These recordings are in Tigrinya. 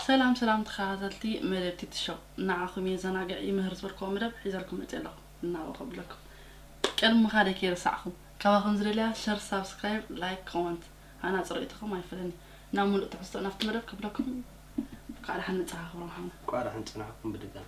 ሰላም ሰላም ተኻታተልቲ መደብ ቲቲ ሾው ንዓኹም የዘናግዕ ይምህር ዝበልክዎ መደብ ሒዘልኩም መጽየ ኣለኹ እናበ ከብለኩም ቅድሚ ምኻደይ ከይረሳዕኹም ካባኹም ዝደልያ ሸር ሳብስክራይብ ላይክ ኮመንት ሃናጺ ርእይቶኹም ኣይፈለኒ ናብ ምሉእ ትሕዝቶ ናብቲ መደብ ከብለኩም እንኳዕ ደሓን መጻኻ ክብሮም ሓውና እንኳዕ ደሓን ጸናሕኩም ብድጋሚ።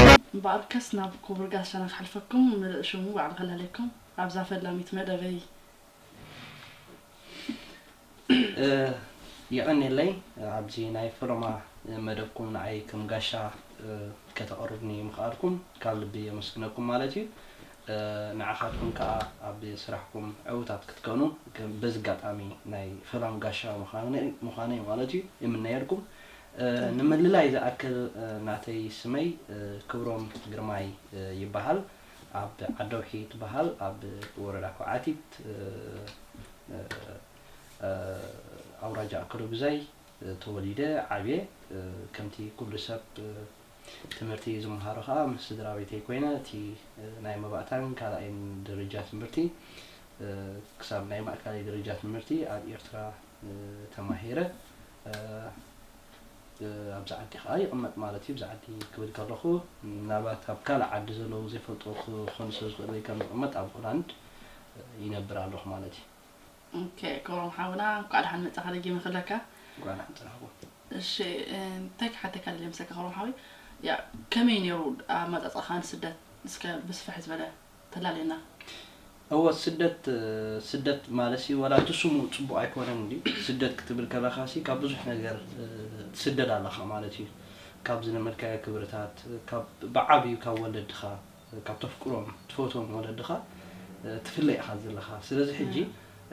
ኣጆኩም እምበኣርከስ ናብ ኩቡር ጋሻና ክሓልፈኩም ምልእ ሽሙ ባዕሉ ከላልየኩም ኣብዛ ፈላሚት መደበይ። የቐኔለይ ኣብዚ ናይ ፈለማ መደብኩም ንዓይ ከም ጋሻ ከተቕርቡኒ ምኽኣልኩም ካብ ልቢ የመስግነኩም ማለት እዩ ንዓኻትኩም ከኣ ኣብ ስራሕኩም ዕውታት ክትከኑ በዚ ኣጋጣሚ ናይ ፈላም ጋሻ ምዃነይ ማለት እዩ ይምነየልኩም ንምልላይ ዝኣክል ናተይ ስመይ ክብሮም ግርማይ ይበሃል ኣብ ዓደውሒ ትበሃል ኣብ ወረዳ ኩዓቲት ኣውራጃ ኣከለጉዛይ ተወሊደ ዓብየ ከምቲ ኩሉ ሰብ ትምህርቲ ዝመሃሮ ከኣ ምስ ስድራቤተይ ኮይነ እቲ ናይ መባእታን ካልኣይን ደረጃ ትምህርቲ ክሳብ ናይ ማእከላይ ደረጃ ትምህርቲ ኣብ ኤርትራ ተማሂረ ኣብዚ ዓዲ ከኣ ይቕመጥ ማለት እዩ። ኣብዚ ዓዲ ክብል ከለኹ ምናልባት ኣብ ካልእ ዓዲ ዘለዉ ዘይፈልጥዎ ክኾኑ ስለ ዝኽእሉ ወይ ከም ዝቕመጥ ኣብ ሆላንድ ይነብር ኣለኹ ማለት እዩ። ኦኬ ክብሮም ሓውና እንኳዕ ደሓን መጻኻ ደጊመ ክብለካ። እንኳዕ ደሓን ጸናሕኩም። እሺ እንታይ ክሓተካ ደልየ መሰለካ ክብሮም ሓወይ ያ ከመይ ነይሩ ኣመጻጽኣኻ ንስደት እስከ ብስፍሕ ዝበለ ተላልየና እወ ስደት ስደት ማለሲ ወላ እቲ ስሙ ጽቡቅ ኣይኮነን እንድዩ ስደት ክትብል ከለካሲ ካብ ብዙሕ ነገር ትስደድ ኣለካ ማለት እዩ ካብ ዝለመድካዮ ክብርታት ካብ ብዓብዩ ካብ ወለድካ ካብ ተፍቅሮም ትፈትዎም ወለድካ ትፍለ ኢካ ዘለካ ስለዚ ሕጂ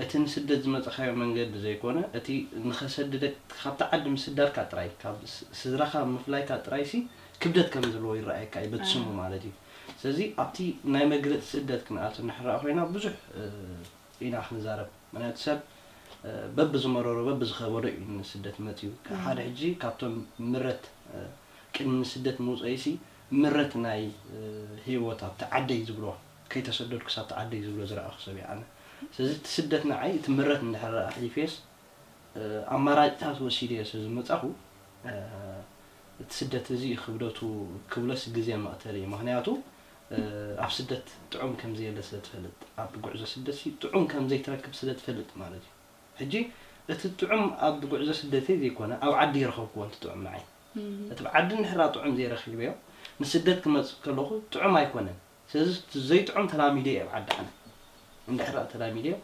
እቲ ንስደት ዝመጻካዮ መንገዲ ዘይኮነ እቲ ንከሰድደክ ካብቲ ዓዲ ምስዳድካ ጥራይ ካብ ስድራካ ምፍላይካ ጥራይሲ ክብደት ከም ዘለዎ ይረኣየካ እዩ በቲ ስሙ ማለት እዩ። ስለዚ ኣብቲ ናይ መግለጺ ስደት ክንኣቱ እንሕራእ ኮይና ብዙሕ ኢና ክንዛረብ ምክንያቱ ሰብ በብዝመረሮ በብዝከበዶ እዩ ንስደት መጽዩ ሓደ ሕጂ ካብቶም ምረት ቅድሚ ንስደት ምውጸኢሲ ምረት ናይ ሂወት ኣብቲ ዓደይ ዝብሎ ከይተሰደድኩስ ኣብቲ ዓደይ ዝብሎ ዝረኣኩ ሰብ እየ ኣነ ስለዚ እቲ ስደት ንዓይ እቲ ምረት እንድሕር ኣሕሊፈየስ ኣማራጭታት ወሲደዮ ስለ ዝመጻኹ እቲ ስደት እዚ እዩ ክብደቱ ክብሎስ ግዜ መቕተሊ እዩ። ምኽንያቱ ኣብ ስደት ጥዑም ከም ዘየለ ስለ ትፈልጥ። ኣብ ጉዕዞ ስደትሲ ጥዑም ከም ዘይትረክብ ስለ ትፈልጥ ማለት እዩ። ሕጂ እቲ ጥዑም ኣብ ጉዕዞ ስደተይ ዘይኮነ ኣብ ዓዲ ይረኸብክዎ እቲ ጥዑም ንዓይ። እቲ ኣብ ዓዲ እንድሕር ጥዑም ዘይረኺበዮ ንስደት ክመጽእ ከለኹ ጥዑም ኣይኮነን። ስለዚ እቲ ዘይጥዑም ተላሚደዮ ኣብ ዓዲ ኣነ እንድሕር ደኣ ተላሚደዮ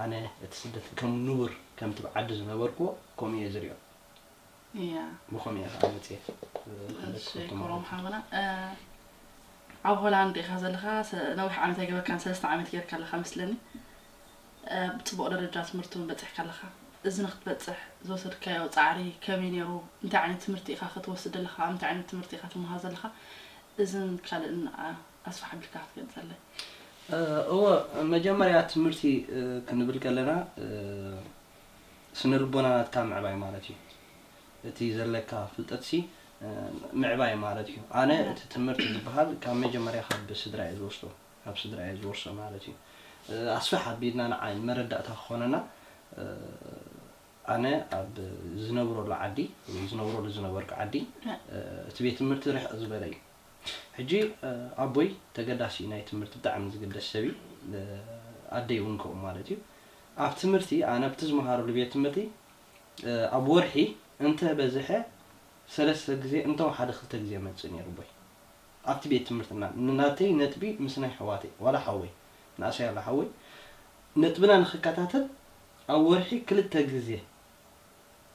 ኣነ እቲ ስደት ከም ንቡር ከምቲ ኣብ ዓዲ ዝነበርክዎ ከምኡ እየ ዝሪኦ ብከምኡ እየ ከኣ መጽየ ክሕለፍ ዝፈቱ ማለት ኣብ ሆላንድ ኢካ ዘለካ ነዊሕ ዓመት ኣይገበርካን ሰለስተ ዓመት ጌርካ ኣለካ መስለኒ ኣብ ጽቡቕ ደረጃ ትምህርቲ ውን በጺሕካ ኣለኻ። እዚ ንክትበጽሕ ዝወሰድካዮ ጻዕሪ ከመይ ነይሩ? እንታይ ዓይነት ትምህርቲ ኢኻ ክትወስድ ዘለኻ? ኣብ እንታይ ዓይነት ትምህርቲ ኢኻ ትመሃር ዘለኻ? እዝን ካልእን ኣስፍሕ ኣቢልካ ክትገልጸለይ። እወ፣ መጀመርያ ትምህርቲ ክንብል ከለና ስነልቦና ናትካ ምዕባይ ማለት እዩ። እቲ ዘለካ ፍልጠትሲ ምዕባይ ማለት እዩ። ኣነ እቲ ትምህርቲ ዝበሃል ካብ መጀመርያ ካብ ስድራ'የ ዝወስዶ። ካብ ስድራ እየ ዝወርሶ ማለት እዩ ኣስፍሕ ኣቢልና ንዓ ንመረዳእታ ክኾነና ኣነ ኣብ ዝነብረሉ ዓዲ ወይ ዝነብረሉ ዝነበርኩ ዓዲ እቲ ቤት ትምህርቲ ርሕቕ ዝበለ እዩ ሕጂ ኣቦይ ተገዳሲ እዩ ናይ ትምህርቲ ብጣዕሚ ዝግደስ ሰብ እዩ ኣደይ እውን ከምኡ ማለት እዩ ኣብ ትምህርቲ ኣነ ኣብቲ ዝመሃረሉ ቤት ትምህርቲ ኣብ ወርሒ እንተ በዝሐ ሰለስተ ግዜ እንተወሓደ ክልተ ግዜ መፅእ ነይሩ ኣቦይ ኣብቲ ቤት ትምህርትና ንናተይ ነጥቢ ምስ ናይ ኣሕዋተይ ዋላ ሓወይ ንእሰይ ኣሎ ሓወይ ነጥብና ንክከታተል ኣብ ወርሒ ክልተ ግዜ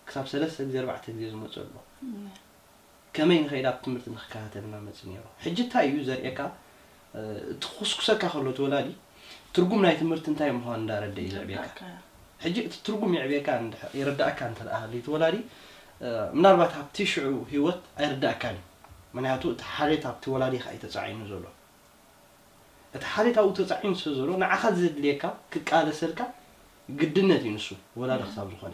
ክሳብ ሰለስተ ግዜ ኣርባዕተ ግዜ ዝመጹ ኣሎ ከመይ ንከይድ ኣብ ትምህርቲ ንክከታተል እና መጽ ነይሩ ሕጂ እንታይ እዩ ዘርእየካ እቲ ክኩስኩሰካ ከሎ እቲ ወላዲ ትርጉም ናይ ትምህርቲ እንታይ ምዃኑ እንዳረደ እዩ ዘዕብየካ ሕጂ እቲ ትርጉም የዕብየካ የረዳእካ እንተ ሃልዩ እቲ ወላዲ ምናልባት ኣብቲ ሽዑ ህይወት ኣይርዳእካን እዩ ምክንያቱ እቲ ሓልዮት ኣብቲ ወላዲኻ እዩ ተጻዒኑ ዘሎ እቲ ሓልዮት ኣብኡ ተጻዒኑ ስለ ዘሎ ንዓኻ ዘድልየካ ክቃለሰልካ ግድነት እዩ ንሱ ወላዲ ክሳብ ዝኾነ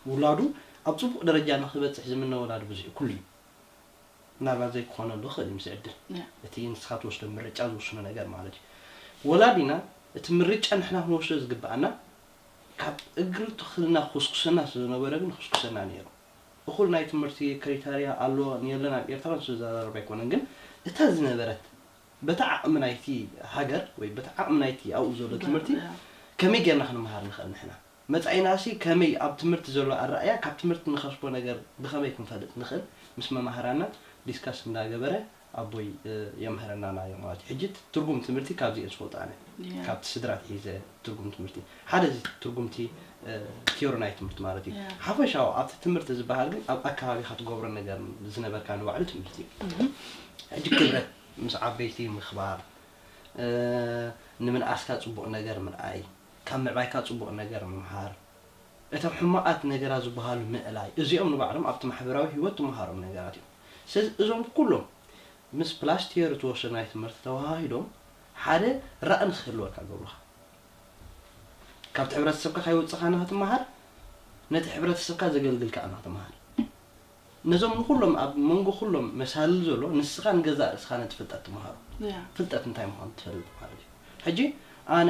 ውላዱ ኣብ ጽቡቕ ደረጃ ንኽበጽሕ ዝምነ ወላዲ ብዙሕ እዩ ኩሉ እዩ ምናልባት ዘይክኾነሉ ይኽእል እዩ ምስ ዕድል እቲ ንስኻ ትወስዶ ምርጫ ዝውስኖ ነገር ማለት እዩ ወላዲና እቲ ምርጫ ንሕና ክንወስዶ ዝግብኣና ካብ እግሪ ተኽልና ክኹስኩሰና ስለ ዝነበረ ግን ይኹስኩሰና ነይሩ እኹል ናይ ትምህርቲ ክሪታርያ ኣሎ ንየለን ኣብ ኤርትራ ንሱ ዝዛራረብ ኣይኮነን ግን እታ ዝነበረት በቲ ዓቕሚ ናይቲ ሃገር ወይ በቲ ዓቕሚ ናይቲ ኣብኡ ዘሎ ትምህርቲ ከመይ ጌርና ክንመሃር ንኽእል ንሕና መጻኢናሲ ከመይ ኣብ ትምህርቲ ዘሎ ኣረኣእያ ካብ ትምህርቲ ንኸስቦ ነገር ብኸመይ ክንፈልጥ ንኽእል ምስ መማህራና ዲስካስ እንዳገበረ ኣቦይ የምህረና ናዮ ማለት እዩ ሕጂ ትርጉም ትምህርቲ ካብዚ እየ ዝፈልጦ ኣነ ካብቲ ስድራ ኣትሒዘ ትርጉም ትምህርቲ ሓደ እዚ ትርጉምቲ ቲዮሪ ናይ ትምህርቲ ማለት እዩ ሓፈሻዊ ኣብቲ ትምህርቲ ዝበሃል ግን ኣብ ኣከባቢካ ትገብሮ ነገር ዝነበርካ ንባዕሉ ትምህርቲ እዩ ሕጂ ክብረት ምስ ዓበይቲ ምክባር ንምንኣስካ ጽቡቅ ነገር ምርኣይ ካብ ምዕባይካ ጽቡቅ ነገር ምምሃር እቶም ሕማቓት ነገራት ዝበሃሉ ምእላይ፣ እዚኦም ንባዕሎም ኣብቲ ማሕበራዊ ህይወት ትመሃሮም ነገራት እዮም። ስለዚ እዞም ኩሎም ምስ ፕላስቲየር እትወስዶ ናይ ትምህርቲ ተወሃሂዶም ሓደ ራኢ ንክህልወካ ይገብሩኻ። ካብቲ ሕብረተሰብካ ከይወጸኻ ንክትመሃር፣ ነቲ ሕብረተሰብካ ዘገልግል ከኣ ንክትመሃር። ነዞም ንኹሎም ኣብ መንጎ ኩሎም መሳልል ዘሎ ንስኻ ንገዛእ ርእስኻ ነቲ ፍልጠት ትመሃሮ። ፍልጠት እንታይ ምዃኑ ትፈልጥ ማለት እዩ። ሕጂ ኣነ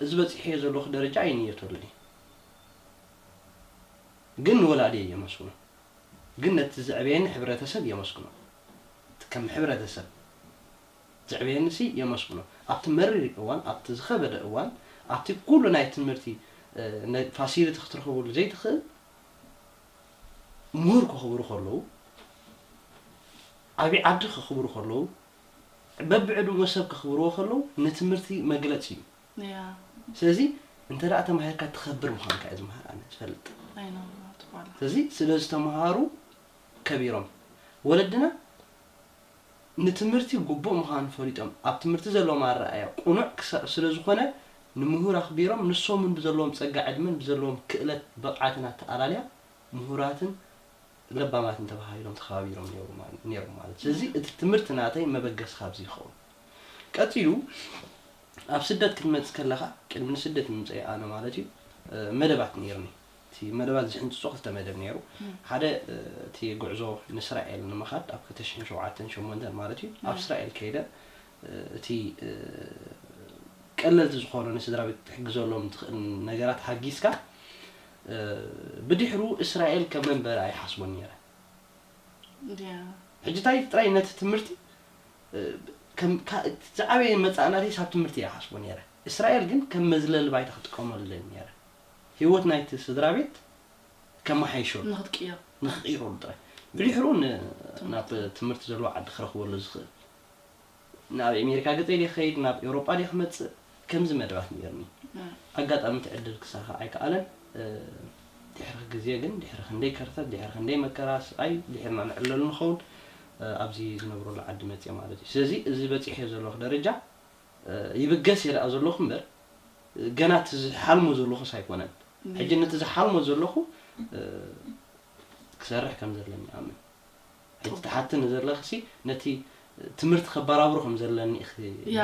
እዚ በጺሐዮ ዘለኹ ደረጃ ኣይንየተሉን እየ ግን ንወላዲየይ የመስግኖ ግን ነቲ ዘዕበየኒ ሕብረተሰብ የመስግኖ እቲ ከም ሕብረተሰብ ዘዕበየኒሲ የመስግኖ ኣብቲ መሪር እዋን ኣብቲ ዝኸበደ እዋን ኣብቲ ኩሉ ናይ ትምህርቲ ፋሲሊቲ ክትረኽበሉ ዘይትኽእል ምሁር ከኽብሩ ከለዉ ዓቢ ዓዲ ከኽብሩ ከለዉ በብዕድመኡ ሰብ ከኽብርዎ ከለዉ ንትምህርቲ መግለጺ እዩ። ስለዚ እንተ ተማሂርካ ትኸብር ምዃንካ እየ ዝምሃር ኣነ ዝፈልጥ። ስለዚ ስለ ዝተምሃሩ ከቢሮም። ወለድና ንትምህርቲ ግቡእ ምዃኑ ፈሊጦም ኣብ ትምህርቲ ዘለዎም ኣረኣእያ ቅኑዕ ስለ ዝኾነ ንምሁር ኣኽቢሮም ንሶም እውን ብዘለዎም ጸጋ ዕድመን ብዘለዎም ክእለት ብቕዓትን ኣተኣላልያ ምሁራትን ለባማትን ተባሃሂሎም ተኸባቢሮም ኔሮም ማለት እዩ። ስለዚ እቲ ትምህርቲ ናተይ መበገሲ ካብዚ ይኸውን። ቀጺሉ ኣብ ስደት ክትመጽእ ከለኻ ቅድሚ ንስደት ምምጸኣይ ኣነ ማለት እዩ መደባት ኔርኒ። እቲ መደባት ዝሕንጽጾ ክልተ መደብ ኔሩ። ሓደ እቲ ጉዕዞ ንስራኤል ንምኻድ ኣብ ክልተ ሽሕን ሸውዓተን ሸሞንተን ማለት እዩ ኣብ ስራኤል ከይደ እቲ ቀለልቲ ዝኾኑ ንስድራቤት ክትሕግዘሎም ትኽእል ነገራት ሓጊዝካ ብድሕሩ እስራኤል ከም መንበሪ ኣይሓስቦን ኔረ ሕጂ ታይ ጥራይ ነቲ ትምርቲ ከም ዝዓበየ መጻኢ ናተይ ሳብ ትምርቲ እየ ሓስቦ ኔረ እስራኤል ግን ከም መዝለሊ ባይታ ክጥቀመሉ ደሊ ኔረ ሂወት ናይቲ ስድራቤት ከማሓይሸሉ ንክቅይረሉ ጥራይ ብድሕሩ ናብ ትምርቲ ዘለዎ ዓዲ ክረክበሉ ዝክእል ናብ ኤሜሪካ ገጸይ ድየ ክኸይድ ናብ ኤውሮጳ ድየ ክመጽእ ከምዚ መደባት ኔርኒ ኣጋጣሚ እቲ ዕድል ክሳኻዕ ኣይከኣለን ድሕሪ ግዜ ግን ድሕሪ ክንደይ ከርተት ድሕሪ ክንደይ መከራ ስቓይ ድሒርና ንዕለሉ ንኸውን ኣብዚ ዝነብረሉ ዓዲ መጽየ ማለት እዩ ስለዚ እዚ በጺሐዮ ዘለኹ ደረጃ ይብገስ እየ ደኣ ዘለኹ እምበር ገና እቲ ዝሓልሞ ዘለኹስ ኣይኮነን ሕጂ ነቲ ዝሓልሞ ዘለኹ ክሰርሕ ከም ዘለኒ ይኣምን ሕጂ ትሓትኒ ዘለኽሲ ነቲ ትምህርቲ ከባራብሮ ከም ዘለኒ ኢኺ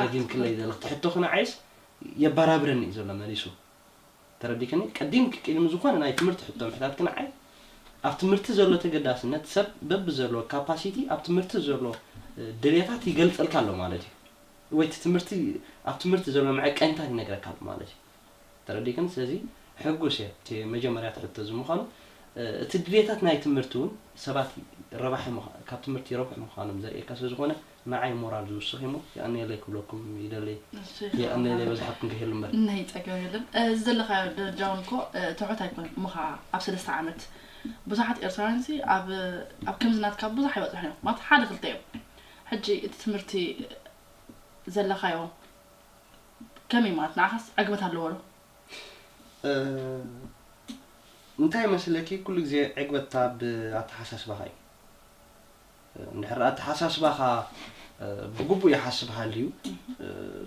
ደጊምክለይ ዘለኺ እቲ ሕቶኺ ንዓይስ የባራብረኒ እዩ ዘሎ መሊሱ ተረዲክኒ ቀዲምኪ ቅድሚ ዝኾነ ናይ ትምህርቲ ሕቶ ምሕታትኪ ንዓይ ኣብ ትምህርቲ ዘሎ ተገዳስነት ሰብ በቢ ዘለዎ ካፓሲቲ ኣብ ትምህርቲ ዘሎ ድልየታት ይገልጸልካ ኣሎ ማለት እዩ ወይ እቲ ትምህርቲ ኣብ ትምህርቲ ዘሎ መዐቀኒታት ይነግረካ ኣሎ ማለት እዩ ተረዲክን ስለዚ ሕጉስ እየ እቲ መጀመርያ እቲ ሕቶ እዚ ምዃኑ እቲ ድልየታት ናይ ትምህርቲ ውን ሰባት ረባሒ ካብ ትምህርቲ ይረብሑ ምዃኖም ዘርእየካ ስለ ዝኾነ ንዓይ ሞራል ዝውስኽ እዩሞ የቀንየለይ ክብለኩም ይደሊ የቀንየለይ በዝሓኩም ከይህሉ እምበር ናይ ጸገም የለን እዚ ዘለኻዮ ደረጃ ውን እኮ ትሑት ኣይኮነን እሞ ኸኣ ኣብ ሰለስተ ዓመት ብዙሓት ኤርትራውያን ሲ ኣብ ኣብ ከምዚ ናትካ ብዙሕ ኣይበጽሑን እዮም ማለት ሓደ ክልተ እዮም ሕጂ እቲ ትምህርቲ ዘለኻዮ ከመይ ማለት ንዓኻስ ዕግበት ኣለዎ ዶ? እንታይ መሰለኪ ኩሉ ግዜ ዕግበት ኣብ ኣተሓሳስባኻ እዩ። እንድሕር ኣተሓሳስባኻ ብግቡእ ይሓስብ ሃልዩ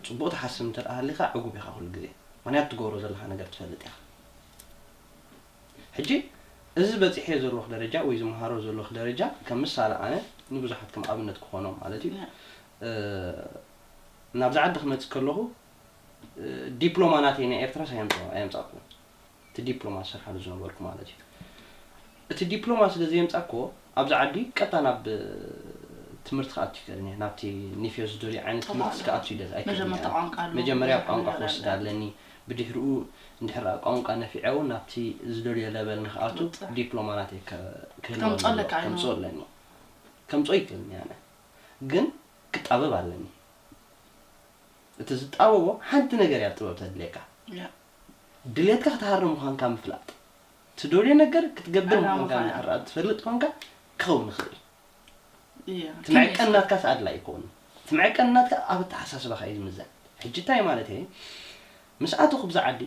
ጽቡቕ ትሓስብ እንተደኣ ሃሊኻ ዕጉብ ኢኻ ኩሉ ግዜ ምኽንያቱ ትገብሮ ዘለኻ ነገር ትፈልጥ ኢኻ። ሕጂ እዚ በጺሐዮ ዘለኹ ደረጃ ወይ ዝመሃሮ ዘለኹ ደረጃ ከም ምሳለ ኣነ ንብዙሓት ከም ኣብነት ክኾኖም ማለት እዩ ናብዚ ዓዲ ክመጽእ ከለኹ ዲፕሎማ ናተይ ናይ ኤርትራስ ኣየምጻእኩዎን እቲ ዲፕሎማ ዝሰርሓሉ ዝነበርኩ ማለት እዩ እቲ ዲፕሎማ ስለ ዘየምጻእኩዎ ኣብዚ ዓዲ ቀጥታ ናብ ትምህርቲ ክኣቱ ይከእልን እየ ናብቲ ኒፌዮ ዝደልዩ ዓይነት ትምህርቲ ስክኣቱ ይደል ኣይክእልን መጀመርያ ቋንቋ ክወስድ ኣለኒ ብድሕሪኡ እንድሕር ቋንቋ ነፊዐ እውን ናብቲ ዝደልዮ ለበል ንክኣቱ ዲፕሎማ ናተይ ክህልወ ከምፅኦ ኣለኒ ከምፅኦ ይክእልን እየ ኣነ ግን ክጣበብ ኣለኒ እቲ ዝጣበቦ ሓንቲ ነገር እያ ጥበብ ተድልየካ ድልየትካ ክትሃርም ምዃንካ ምፍላጥ ትደልዮ ነገር ክትገብር ምዃንካ እንድሕር ትፈልጥ ኮንካ ክኸውን ይኽእል እዩ እቲ መዕቀኒ ናትካስ ኣድላይ ይከውን እቲ መዕቀኒ ናትካ ኣብ ኣተሓሳስባኻ እዩ ዝምዘን ሕጂ እንታይ ማለት እየ ምስ ኣተኹ ብዛ ዓዲ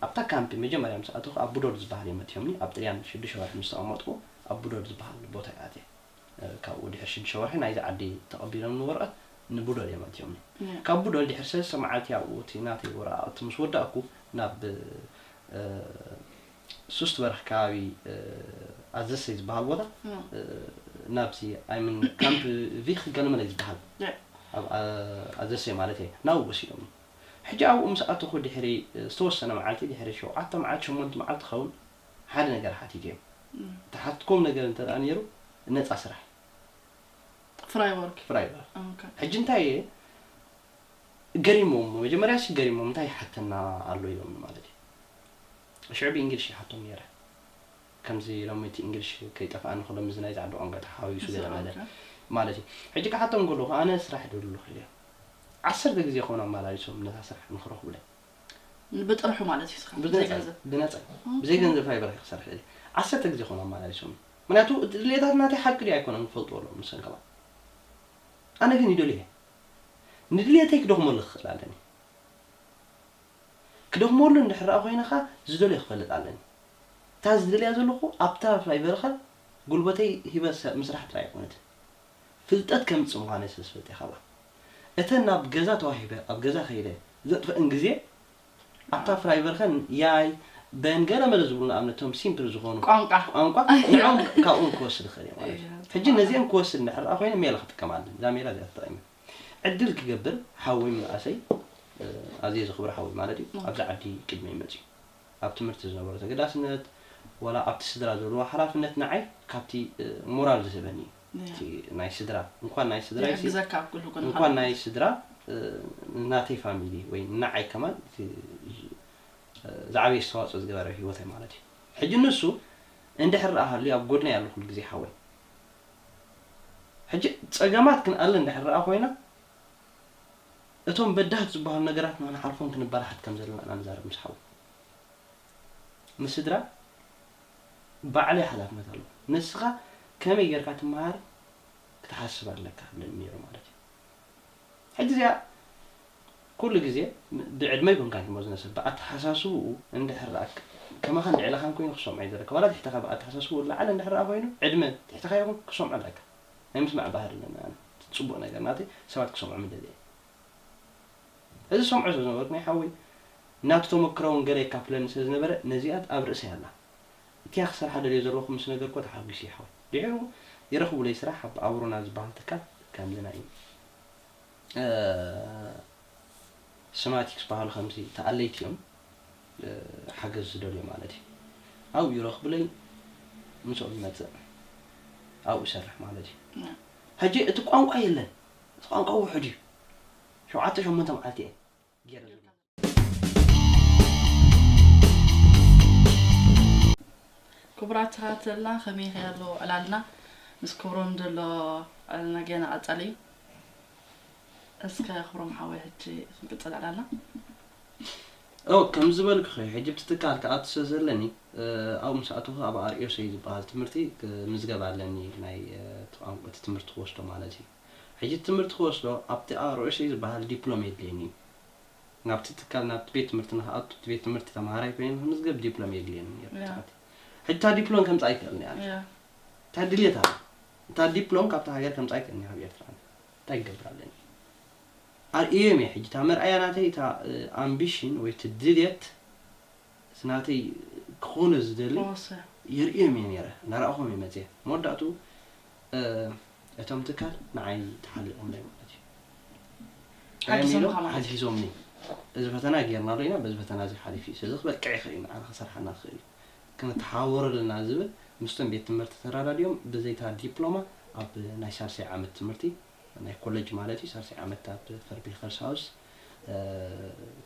ኣብታ ካምፒ መጀመርያ ምስ ኣተኹ ኣብ ቡዶድ ዝበሃል እዮም መቲሆምኒ ኣብ ጥልያን ሽዱሽተ ወርሒ ምስ ተቐመጥኩ ኣብ ቡዶድ ዝበሃል ቦታ እየ ኣትየ ካብ ድሕሪ ሽዱሽተ ወርሒ ናይዚ ዓዲ ተቐቢሎምኒ ወረቐት ንቡዶል እዮም ኣእትዮምኒ። ካብ ቡዶል ድሕሪ ሰለስተ መዓልቲ ኣብኡ እቲ ናተይ ወረቓቕቲ ምስ ወዳእኩ ናብ ሱስትበርኽ ከባቢ ኣዘሰይ ዝበሃል ቦታ ናብቲ ኣይምን ካምፕ ቪኽ ገለመለይ ዝበሃል ኣብ ኣዘሰይ ማለት እየ ናብኡ ወሲዶምኒ። ሕጂ ኣብኡ ምስ ኣተኹ ድሕሪ ዝተወሰነ መዓልቲ ድሕሪ ሸውዓተ መዓልቲ ሸሞንት መዓልቲ ክኸውን ሓደ ነገር ሓቲት እየ ተሓትኩም ነገር እንተ ነይሩ ነፃ ስራሕ ፍራይወርክ ፍራይወርክ ሕጂ እንታይ እየ ገሪሞም መጀመርያ ሲ ገሪሞም እንታይ ይሓተና ኣሎ ኢሎም ማለት እዩ ሽዑ ብእንግሊሽ ይሓቶም ነይረ ከምዚ ሎሚ እቲ እንግሊሽ ከይጠፍኣኒ ከሎ ምዚ ናይዚ ዓዲ ቋንቋ ተሓዋዊሱ ገለ መለ ማለት እዩ ሕጂ ክሓቶም ከለኹ ኣነ ስራሕ ደሉ ኢለ ዓሰርተ ግዜ ከውን ኣመላሊሶም ነታ ስራሕ ንክረኽቡለይ ብጥርሑ ማለት እዩ ስኻ ብዘይ ገንዘብ ብነጻ ብዘይ ገንዘብ ፋይበር ኣይክሰርሕ ደሊ ዓሰርተ ግዜ ኮን ኣማላሊሶም ምክንያቱ ድሌታት ናተይ ሓቂ ድዩ ኣይኮነን ክፈልጥዎ ኣለዎም ንሰን ከማን ኣነ ግን ይደልዮ እየ ንድልየተይ ክደኽመሉ ክኽእል ኣለኒ ክደኽመሉ እንድሕር ኮይነ ከኣ ዝደልዮ ክፈልጥ ኣለኒ እታ ዝደልያ ዘለኹ ኣብታ ፋይበርኻ ጉልበተይ ሂበ ምስራሕ ጥራይ ኣይኮነትን ፍልጠት ከምጽእ ምዃነይ ስለ ዝፈልጥ እየ ካብኣ። እተን ናብ ገዛ ተዋሂበ ኣብ ገዛ ከይደ ዘጥፍእን ግዜ ኣብታ ፍራይቨርከን ያይ በን ገለ መለ ዝብሉ ንኣብነት እቶም ሲምፕል ዝኾኑ ቋንቋ ቋንቋ ንዕኦም ካብኦም ክወስድ እኽእል እየ ማለት እዩ። ሕጂ ነዚኤን ክወስድ እንድሕር ደኣ ኮይነ ሜላ ክጥቀም ኣለኒ። እዛ ሜላ እዚኣ ተጠቒመ ዕድል ክገብር ሓወይ ምንኣሰይ ኣዝየ ዘኽብሮ ሓወይ ማለት እዩ ኣብዚ ዓዲ ቅድመይ መጺኡ። ኣብ ትምህርቲ ዝነበሮ ተገዳስነት ዋላ ኣብቲ ስድራ ዘለዎ ሓላፍነት ንዓይ ካብቲ ሞራል ዝህበኒ እዩ እቲ ናይ ስድራ እንኳን ናይ ስድራይሲ ይሕግዘካ ኣብ ኩሉ ኩነታት እንኳን ናይ ስድራ ናተይ ፋሚሊ ወይ ንዓይ ከማን እቲ ዝዓበየ ኣስተዋፅኦ ዝገበረ ኣብ ሂወተይ ማለት እዩ ሕጂ ንሱ እንድሕር ረኣ ሃልዩ ኣብ ጎድነይ ኣሎ ኩሉ ግዜ ሓወይ ሕጂ ፀገማት ክንኣሊ እንድሕር ረኣ ኮይና እቶም በዳህቲ ዝበሃሉ ነገራት ንኽንሓልፎም ክንበራህት ከም ዘለና ኢና ንዛረብ ምስ ሓው። ምስ ስድራ ባዕለይ ሓላፍነት ኣለዎ። ንስኻ ከመይ ጌርካ ትመሃር ክትሓስብ ኣለካ እብለኒ ነይሩ ማለት እዩ። ሕጂ እዚኣ ኩሉ ግዜ ብዕድመ ኣይኮንካን ክመ ዝነሰብ ብኣተሓሳስብኡ እንድሕር ደኣ ከማኻን ልዕለኻን ኮይኑ ክሰምዖ እዩ ዘለካ ዋላ ትሕተኻ ብኣተሓሳስብኡ ዝለዓለ እንድሕር ደኣ ኮይኑ ዕድመ ትሕተኻ ይኹን ክሰምዖ ኣለካ። ናይ ምስማዕ ባህሪ ኣለኒ ኣነ እቲ ጽቡቅ ነገር ናተይ ሰባት ክሰምዑ ምደሊ እየ እዚ ዝሰምዖ ስለ ዝነበርኩ ናይ ሓወይ ናቱ ተመክሮ ውን ገለ የካፍለኒ ስለ ዝነበረ ነዚኣ ኣብ ርእሰይ ኣላ እቲኣ ክሰርሓ ደልዮ ዘለኩ ምስ ነገርክዎ ተሓጒሱ እዩ ሓወይ ድሒሩ ይረክቡለይ ስራሕ ኣብ ኣብሮና ዝበሃል ትካል ከምዚ ናይ ስማቲክስ በሃሉ ከምዚ ተኣለይቲ እዮም ሓገዝ ዝደልዮ ማለት እዩ ኣብኡ ይረኽቡለይ ምስኦም ይመጽእ ኣብኡ ይሰርሕ ማለት እዩ ሕጂ እቲ ቋንቋ የለን እቲ ቋንቋ ውሑድ እዩ ሸውዓተ ሸሞንተ መዓልቲ እየ ገይረ ዘሎ ክቡራት ተኸታተልና ከመይ ከሎ ዕላልና ምስ ክብሮም ዘሎ ዕላልና ገና ቀጻሊ እዩ እስከ ክብሮም ሓወይ ሕጂ ክንቅጽል ዕላልና እው ከም ዝበልክኺ ሕጂ ኣብቲ ትካል ክኣቱ ስለ ዘለኒ ኣብኡ ምስ ኣተኹ ኣብ RSA ዝበሃል ትምህርቲ ክምዝገብ ኣለኒ ናይ እቲ ቋንቋ እቲ ትምህርቲ ክወስዶ ማለት እዩ ሕጂ እቲ ትምህርቲ ክወስዶ ኣብቲ RSA ዝበሃል ዲፕሎም የድልየኒ እዩ ናብቲ ትካል ናብቲ ቤት ትምህርቲ ንክኣቱ እቲ ቤት ትምህርቲ ተምሃራይ ኮይኑ ንክምዝገብ ዲፕሎም የድልየኒ ነይሩ Yeah. ትምህርቲ ሕጂ እታ ዲፕሎም ከምፃ ኣይክእልን እያ ኣነ ያ እንታይ ድልየት ኣሎ እታ ዲፕሎም ካብታ ሃገር ከምፃ ኣይክእልን እያ ካብ ኤርትራ ኣነ እንታይ ክገብር ኣለኒ ኣርእየዮም እየ ሕጂ እታ መርኣያ ናተይ እታ ኣምቢሽን ወይ እቲ ድልየት እቲ ናተይ ክኾኖ ዝደሊ የርእዮም እየ ነይረ እንዳረኣኹም እየ መጽየ መወዳእትኡ እቶም ትካል ንዓይ ተሓሊቖምለይ ማለት እዩ እንታይ ኢሎም ሓጊዞምኒ እዚ ፈተና ጌርናሉ ኢና በዚ ፈተና እዚ ሓሊፉ እዩ ስለዚ ክበቅዕ ይኽእል እዩ ንዓና ክሰርሓልና ክኽእል እዩ ክንተሓባበሮ ኣለና ዝብል ምስቶም ቤት ትምህርቲ ተረዳዲኦም ብዘይታ ዲፕሎማ ኣብ ናይ ሳልሳይ ዓመት ትምህርቲ ናይ ኮለጅ ማለት እዩ ሳልሳይ ዓመት ኣብ ፈርቢ ኸርሳውስ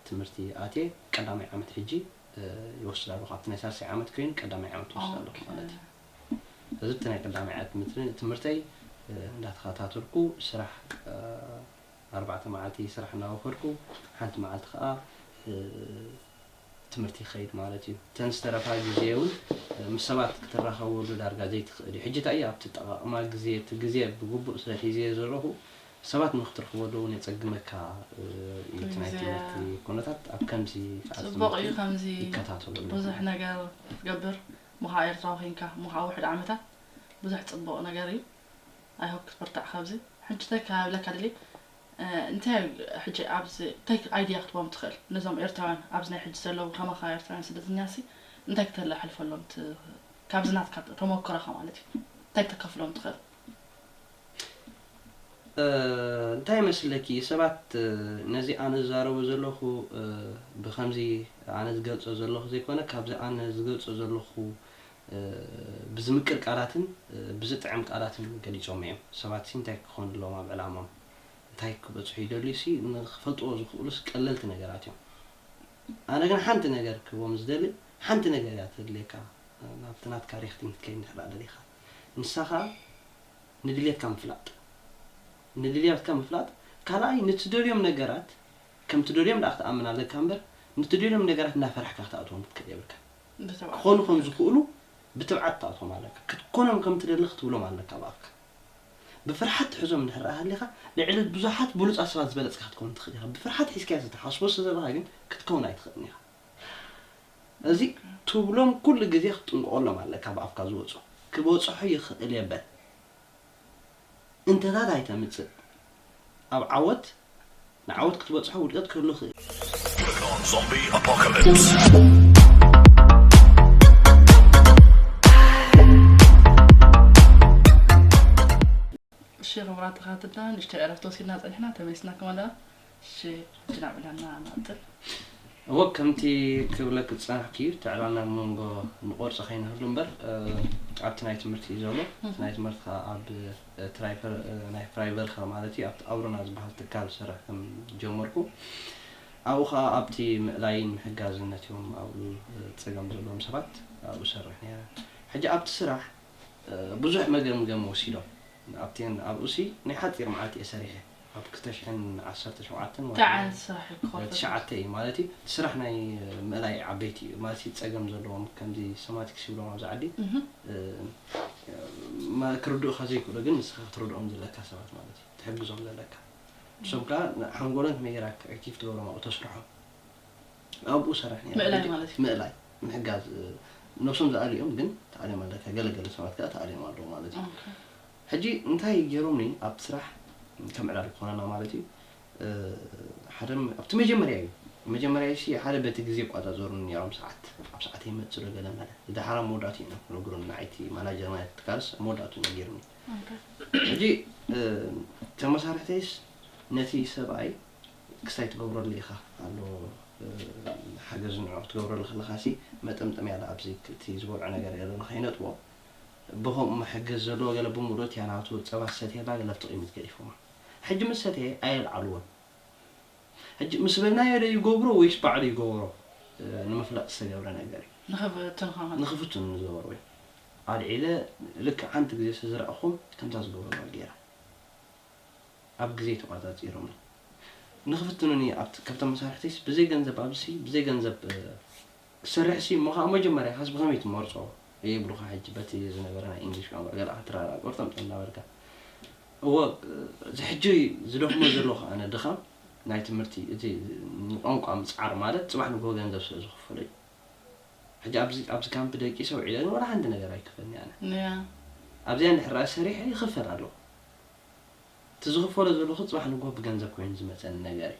ትምህርቲ ኣትየ ቀዳማይ ዓመት ሕጂ ይወስድ ኣለኹ ኣብቲ ናይ ሳልሳይ ዓመት ኮይኑ ቀዳማይ ዓመት ይወስድ ኣለኹ ማለት እዩ ስለዚ እቲ ናይ ቀዳማይ ዓመት ትምህርተይ እንዳተኸታተልኩ ስራሕ ኣርባዕተ መዓልቲ ስራሕ እናወፈርኩ ሓንቲ መዓልቲ ከዓ ትምህርቲ ይኸይድ ማለት እዩ። እተን ዝተረፋ ግዜ እውን ምስ ሰባት ክትራኸበሉ ዳርጋ ዘይትኽእል እዩ። ሕጂ እንታይ እዩ ኣብ እትጠቓቕማ ግዜ እቲ ግዜ ብግቡእ ስለ ሒዘዮ ዘለኹ ሰባት ንኽትረኽበሉ እውን የጸግመካ እዩ። እቲ ናይ ትምህርቲ ኩነታት ኣብ ከምዚ ሰዓት ጽቡቕ እዩ ትምህርቲ ከምዚ ይከታተሎ ኣለኹ። ብዙሕ ነገር ክትገብር እሞ ከኣ ኤርትራዊ ኮንካ እሞ ከኣ ውሑድ ዓመታት ብዙሕ ጽቡቕ ነገር እዩ i hope ክትብርትዕ ካብዚ ሕጂ እንታይ ክብለካ ደልየ እንታይ እዩ ሕጂ ኣብዚ እንታይ ኣይድያ ክትቦም ትኽእል ነዞም ኤርትራውያን ኣብዚ ናይ ሕጂ ዘለዉ ከማኻ ኤርትራውያን ስደተኛሲ እንታይ ክተላሓልፈሎም ካብዚ ናትካ ተሞክሮኻ ማለት እዩ እንታይ ክተከፍሎም ትኽእል? እንታይ ይመስለኪ ሰባት ነዚ ኣነ ዝዛረቦ ዘለኹ ብከምዚ ኣነ ዝገልጾ ዘለኹ ዘይኮነ ካብዚ ኣነ ዝገልጾ ዘለኹ ብዝምቅር ቃላትን ብዝጥዕም ቃላትን ገሊጾሞ እዮም። ሰባትሲ እንታይ ክኾኑ ኣለዎም ኣብ ዕላምኦም እንታይ ክበጽሑ ይደልዩሲ ንኽፈልጥዎ ዝኽእሉስ ቀለልቲ ነገራት እዮም። ኣነ ግን ሓንቲ ነገር ክህቦም ዝደሊ ሓንቲ ነገር እያ ተድልየካ ናብቲ ናትካ ሪክቲንግ ክትከይድ እንድሕርድኣ ደሊኻ ንሳ ከኣ ንድልየትካ ምፍላጥ ንድልያትካ ምፍላጥ ካልኣይ ንትደልዮም ነገራት ከምትደልዮም ደኣ ክትኣምን ኣለካ እምበር ንትደልዮም ነገራት እንዳፈራሕካ ክትኣትዎም ክትክእል የብልካን። ክኾኑ ከም ዝኽእሉ ብትብዓት ትኣትዎም ኣለካ። ክትኮኖም ከም ትደሊ ክትብሎም ኣለካ ብኣፍካ። ብፍርሓት ትሕዞም እንድሕር ደኣ ሃሊኻ፣ ልዕሊ ብዙሓት ብሉጻት ሰባት ዝበለጽካ ክትከውን ትኽእል ኢኻ። ብፍርሓት ሒዝካዮ ዘይትሓስቦ ስለ ዘለኻ ግን ክትከውን ኣይትኽእልን ኢኻ። እዚ ትብሎም ኩሉ ግዜ ክትጥንቀቐሎም ኣለካ ብኣፍካ ዝወጹ። ክበጽሖ ይኽእል'የ በል። እንተታት ኣይተምጽእ ኣብ ዓወት ንዓወት ክትበጽሖ ውድቀት ክህሉ ይኽእል። ሽር ምራት ተኻትልና ንእሽተይ ዕረፍቲ ወሲድና ፀኒሕና ተመሊስና ከማን ደኣ እሺ ሕጂ ናብ ዕላልና ንቕጽል። እወ ከምቲ ክብለኪ ዝጸናሕኩ እዩ እቲ ዕላልና ኣብ መንጎ ንቆርጾ ከይንህሉ እምበር ኣብቲ ናይ ትምህርቲ እዩ ዘሎ እቲ ናይ ትምህርቲ ከኣ ኣብ ትራይፈር ናይ ፍራይቨርካ ማለት እዩ ኣብቲ ኣውሮና ዝበሃል ትካል ዝሰርሕ ከም ጀመርኩ ኣብኡ ከኣ ኣብቲ ምእላይን ምሕጋዝን ነቲኦም ኣብኡ ጸገም ዘለዎም ሰባት ኣብኡ እሰርሕ ነይረ ሕጂ ኣብቲ ስራሕ ብዙሕ መገምገሚ ወሲዶም ኣብቲ ኣብኡሲ ናይ ሓጺር መዓልቲ እየ ሰሪሐ ኣብ ክልተ ሽሕን ዓሰርተ ሸውዓተን ወርሒ ታይ ዓይነት ስራሕ እዩ ክኸፈት? ትሽዓተ እዩ ማለት እዩ እቲ ስራሕ ናይ ምእላይ ዓበይቲ እዩ ማለት እዩ ፀገም ዘለዎም ከምዚ ሰማቲክስ ይብሎም ኣብዚ ዓዲ ክርድኡኻ ዘይክእሉ ግን ንስኻ ክትረድኦም ዘለካ ሰባት ማለት እዩ ትሕግዞም ዘለካ ንሶም ከዓ ሓንጎሎም ከመይ ጌርካ ኣክቲቭ ትገብሮም ኣብኡ ተስርሖም ኣብኡ ሰራሕ ነይረ ምእላይ ግዲ ማለት እዩ። ምእላይ ምሕጋዝ ነብሶም ዝኣልዩ እዮም ግን ተኣልዮም ኣለካ ገለ ገለ ሰባት ከዓ ተኣልዮም ኣለዉ ማለት እዩ ኦኬ። ሕጂ እንታይ ጌሮምኒ ኣብቲ ስራሕ ከም ዕላል ክኾነና ማለት እዩ ሓደ ኣብቲ መጀመርያ እዩ መጀመርያ ሲ ሓደ በቲ ግዜ ይቆጻጸሩኒ ኔሮም ሰዓት ኣብ ሰዓተይ መጽእ ዶ ገለ መለ ዝድሓር ኣብ መወዳእትኡ እዮም ክነግሩኒ ንዓይ እቲ ማናጀር ናይቲ ትካልስ ኣብ መወዳእትኡ ነጊሩኒ ሕጂ እተን መሳርሕተይስ ነቲ ሰብኣይ ክስታይ ትገብረሉ ኢኻ ኣሎ ሓገዝ ንዑ ክትገብረሉ ከለኻሲ መጠምጠምያ ዳኣ ኣብዚ እቲ ዝበልዖ ነገር የለን ንኸይነጥቦ ብኸምኡ መሐገዚ ዘለዎ ገለ ብሙዶትያ ናቱ ጸባ ዝሰትየ እንዳ ገለ ኣብቲ ቂሚት ገዲፎማ ሕጂ ምስ ሰተየ ኣየልዓልዎን ሕጂ ምስ በልናዮ ዶ ይገብሮ ወይስ ባዕሉ ይገበሮ ንምፍላጥ ዝተገብረ ነገር እዩ ንኽፍቱን ከማን ንኽፍቱን ንዝገበርዎ እዩ ኣልዒለ ልክዕ ሓንቲ ግዜ ስዝረኣኹም ከምታ ዝገበርዋ ጌረ ኣብ ግዜ ተቋጻጺሮምኒ ንኽፍትኑኒ ኣብቲ ካብቶም መሳርሕተይስ ብዘይ ገንዘብ ኣብዚሲ ብዘይ ገንዘብ ክትሰርሕሲ እሞ ከኣ መጀመርያ ካስ ብከመይ ትመርጾ እየ ይብሉካ ሕጂ በቲ ዝነበረ ናይ ኢንግሊሽ ቋንቋ ገለ ክትራዳእ ቆርጠምጠም እንዳበልካ እወ እዚ ሕጂ ዝደክሞ ዘለኩ ኣነ ድካም ናይ ትምህርቲ እቲ ንቋንቋ ምጽዓር ማለት ጽባሕ ንግሆ ገንዘብ ስለ ዝክፈሎ እዩ ሕጂ ኣብዚ ኣብዚ ካምፕ ደቂሰ ውዒለ ግን ወላ ሓንቲ ነገር ኣይክፈልኒ ኣነ ኣብዚኣ እንድሕር ርኣስ ሰሪሐ ይክፈል ኣለኩ እቲ ዝክፈሎ ዘለኩ ጽባሕ ንግሆ ብገንዘብ ኮይኑ ዝመጸኒ ነገር እዩ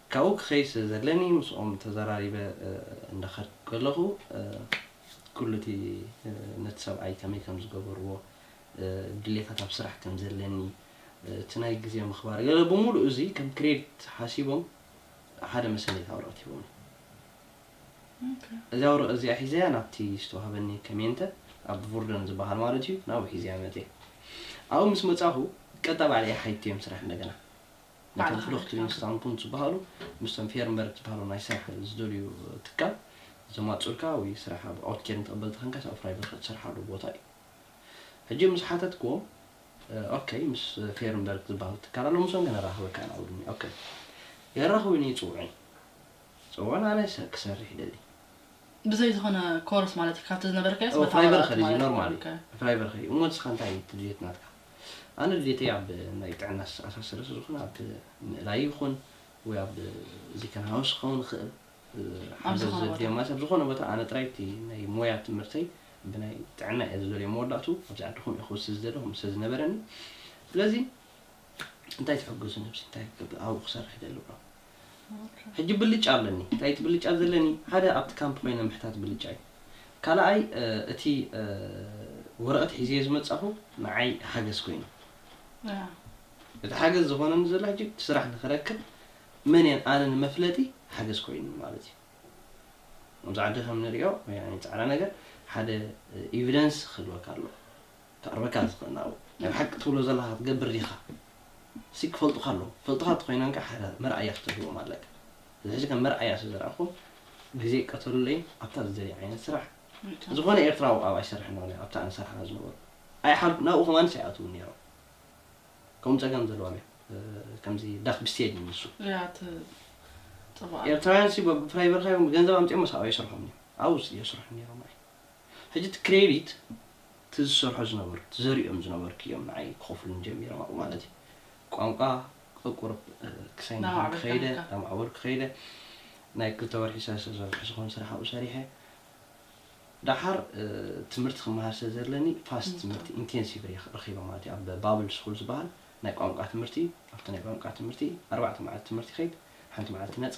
ካብኡ ክኸይድ ስለ ዘለኒ ምስኦም ተዘራሪበ እንዳኸድኩ ከለኹ ኩሉ እቲ ነቲ ሰብኣይ ከመይ ከም ዝገበርዎ ድሌታት ኣብ ስራሕ ከም ዘለኒ እቲ ናይ ግዜ ምኽባር ገለ ብምሉኡ እዚ ከም ክሬዲት ሓሲቦም ሓደ መሰነይታ ወረቐት ሂቦምኒ። እዚኣ ወረቐት እዚኣ ሒዘያ ናብቲ ዝተዋህበኒ ከሜንተ ኣብ ቮርደን ዝበሃል ማለት እዩ ናብኡ ሒዘያ መጺኣ። ኣብኡ ምስ መጻኹ ቀጥታ ባዕለይ ሓይቲዮም ስራሕ እንደገና። ነቶም ፍሉኽት ሊንግስታውንፖንት ዝበሃሉ ምስቶም ፌርምበርግ ዝበሃሉ ናይ ስራሕ ዝደልዩ ትካል ዘማጽኡልካ ወይ ስራሕ ኣብ ኦትኬርን ተቐበልቲ ከንካስ ኣብ ፍራይበርግ ክትሰርሓሉ ቦታ እዩ። ሕጂ ምስ ሓተትክዎም ኦከይ ምስ ፌርምበርግ ዝበሃሉ ትካል ኣሎ ምሶም ከነራኽበካ ኢና ብሉኒ ኦከይ የራኽቡኒ ይጽውዑኒ ጸውዑን ኣነ ክሰርሕ ይደሊ። ብዘይ ዝኾነ ኮርስ ማለት ካብቲ ዝነበረካዮስ በታ ወራርቲ ማለት እዩ። ፍራይበርኸ እዩ ኖርማሊ ፍራይበርኸ እዩ እሞ ንስኻ እንታይ እዩ ድልየት ናትካ? ኣነ ድሌተይ ኣብ ናይ ጥዕና ዝተኣሳሰረ ስለዝኾነ ኣብ ምእላይ ይኹን ወይ ኣብ እዚ ከንሃውስ ክኸውን ይኽእል ኣብ ሓገዝ ዝኾነ ዘድልዮም ቦታ ማለት ኣብ ዝኾነ ቦታ ኣነ ጥራይ እቲ ናይ ሞያ ትምህርተይ ብናይ ጥዕና እየ ዝደልዮ መወዳእትኡ ኣብዚ ዓዲ ከምኡ እየ ክውስድ ዝደሊ ከምኡ ስለዝነበረኒ ስለዚ እንታይ ትሕግዙኒ ኣብዚ እንታይ ክገብር ኣብኡ ክሰርሕ ይደሊ እብሎም። ሕጂ ብልጫ ኣለኒ እንታይ እቲ ብልጫ ዘለኒ ሓደ ኣብቲ ካምፕ ኮይነ ምሕታት ብልጫ እዩ ካላኣይ እቲ ወረቀት ሒዘዮ ዝመጻኹ ንዓይ ሓገዝ ኮይኑ እቲ ሓገዝ ዝኾነኒ ዘሎ ሕጂ እቲ ስራሕ ንኽረክብ መን እየ ኣነ ንመፍለጢ ሓገዝ ኮይኑኒ ማለት እዩ ኣብዚ ዓዲ ከም ንሪኦ ወይ ጻዕዳ ነገር ሓደ ኢቪደንስ ክህልወካ ኣለዎ ክቀርበካ ዝክእል ናብኡ ናይ ብሓቂ ትብሎ ዘለካ ክትገብር ዲካ ሲ ክፈልጡካ ኣለዎም ክፈልጡካ ተኮይኖም ከኣ ሓዳር መርኣያ ክትህልዎም ኣለካ እዚ ሕጂ ከም መርኣያ ስለ ዝረኣኩም ግዜ ቀተሉለይን ኣብታ ዝደልያ ዓይነት ስራሕ ዝኮነ ኤርትራዊ ኣብኣ ይሰርሕ ነሩ ኣብታ ኣነ ዝሰርሓላ ዝነበርኩ ኣይሓልኩን ናብኡ ከማንስ ኣይኣትውን ነሮም ከምኡ ጸገም ዘለዎም እዮም ከምዚ ዳክ ብስቴድ እዩ ንሱ ኤርትራውያን ሲ ብፍራይ በርካ እዮም ገንዘብ ኣምጺኦም መሳኡ ኣይሰርሑን እዮም ኣብኡ ሲ የስርሑ ነሮም ኣይ ሕጂ እቲ ክሬዲት እቲ ዝሰርሖ ዝነበርኩ እቲ ዘሪኦም ዝነበርኩ እዮም ንዓይ ክኸፍሉኒ ጀሚሮም ኣብኡ ማለት እዩ ቋንቋ ቁርብ ክሳይ ናባዕሉ ከይደ እናማዕበልካ ናማዕበልኩ ከይደ ናይ ክልተ ወርሒ ሰለስተ ወርሒ ዝኾን ስራሕ ኣብኡ ሰሪሐ ደሓር ትምህርቲ ክመሃር ስለ ዘለኒ ፋስት ትምህርቲ ኢንቴንሲቭ ረኺበ ማለት እዩ ኣብ ባብል ስኩል ዝበሃል ናይ ቋንቋ ትምህርቲ ኣብቲ ናይ ቋንቋ ትምህርቲ ኣርባዕተ መዓልቲ ትምህርቲ ይኸይድ ሓንቲ መዓልቲ ነፃ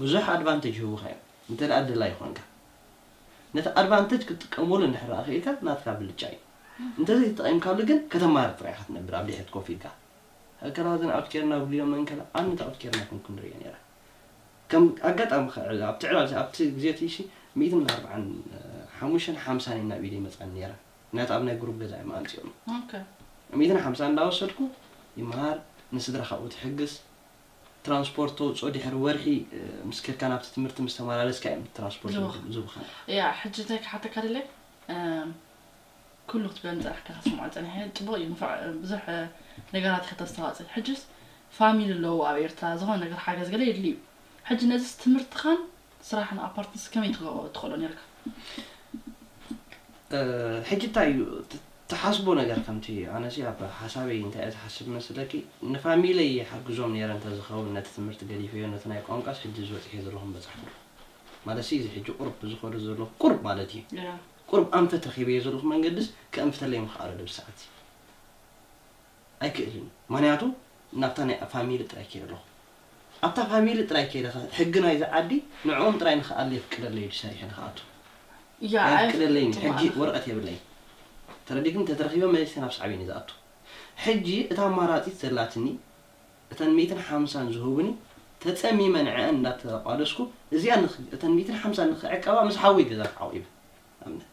ብዙሕ ኣድቫንተጅ ይህቡኻ እዮም እንተ ደላይ ኾንካ ነቲ ኣድቫንተጅ ክትጥቀመሉ እንድሕር ደኣ ኽኢልካ ናትካ ብልጫ እዩ እንተዘይ ተጠቒምካሉ ግን ከተማርር ጥራይ ኢኻ ትነብር ኣብ ድሕሪት ኮፍ ኢልካ ሀከራዝን ኣውት ኬርና ብልዮ መንከላ ኣንት ኣውት ኬርና ኮንኩ ንርእዮ ነይረ ከም ኣጋጣሚ ኸ ኣብቲ ዕላል ኣብቲ ግዜ እቲ ሺ ሚእትን ኣርብዓን ሓሙሽተን ሓምሳን እዮም ናብ ኢደይ መጻኒ ነይረን ምክንያቱ ኣብ ናይ ጉሩብ ገዛ እዮም ኣምጺኦምኒ ሚእትን ሓምሳን እንዳወሰድኩ ይመሃር ንስድራ ካብኡ ትሕግዝ ትራንስፖርት ተውጽኦ ድሕሪ ወርሒ ምስ ከድካ ናብቲ ትምህርቲ ምስ ተማላለስካ እዮም ትራንስፖርት ዝብከን። ያእ ሕጂ እንታይ ክሓተካ ደልየ ኩሉ ክትብለኒ ጸናሕካ ክስምዖ ጸኒሐ ጽቡቅ እዩ እንፋዕ ብዙሕ ነገራት ኢካ ተስተዋጽእ ሕጂስ ፋሚሊ ኣለዉ ኣብ ኤርትራ ዝኮነ ነገር ሓገዝ ገለ የድሊ እዩ ሕጂ ነዚስ ትምህርትካን ስራሕ ን ኣፓርትስ ከመይ ትገብሮ ትክእሎ ኔርካ። ሕጂ እንታይ እዩ ትሓስቦ ነገር ከምቲ ኣነሲ ኣብ ሓሳበይ እንታይ እየ ዝሓስብ ዝመስለኪ ንፋሚለይ ይሓግዞም ኔረ እንተዝከውን ነቲ ትምህርቲ ገዲፈዮ ነቲ ናይ ቋንቋስ ሕጂ እዚ በጺሐ ዘለኩ ምበጻሕኩሉ ማለትሲ እዚ ሕጂ ቁሩብ ዝከዶ ዘለኩ ቁሩብ ማለት እዩ ቁሩብ ኣንፈት ረኪበዮ ዘለኩ መንገድስ ከእንፍተለይ ምክኣሎ ዶ እዚ ሰዓትዚ። ኣይክእልን እዩ ምክንያቱ ናብታ ናይ ፋሚሊ ጥራይ ከይደ ኣለኩ ኣብታ ፋሚሊ ጥራይ ከይደ ከ ሕጊ ናይዚ ዓዲ ንዕኦም ጥራይ ንክኣሊ የፍቅደለይ ድዩ ሰሪሐ ንክኣቱ ያ ኣየፍቅደለይን እዩ ሕጊ ኣይፍቅድማ ወረቀት የብለይን ተረዲክኒ ተተረኪበ መሊሰ ናብ ሳዕቤን እዩ ዝኣቱ ሕጂ እታ ኣማራጺት ዘላትኒ እተን ሚእትን ሓምሳን ዝህቡኒ ተጸሚመ ንዐኣን እንዳተቋደስኩ እዚኣ ንክ እተን ሚእትን ሓምሳን ንክዕቀባ ምስ ሓወይ ገዛ ክዓቁብ ኣብነት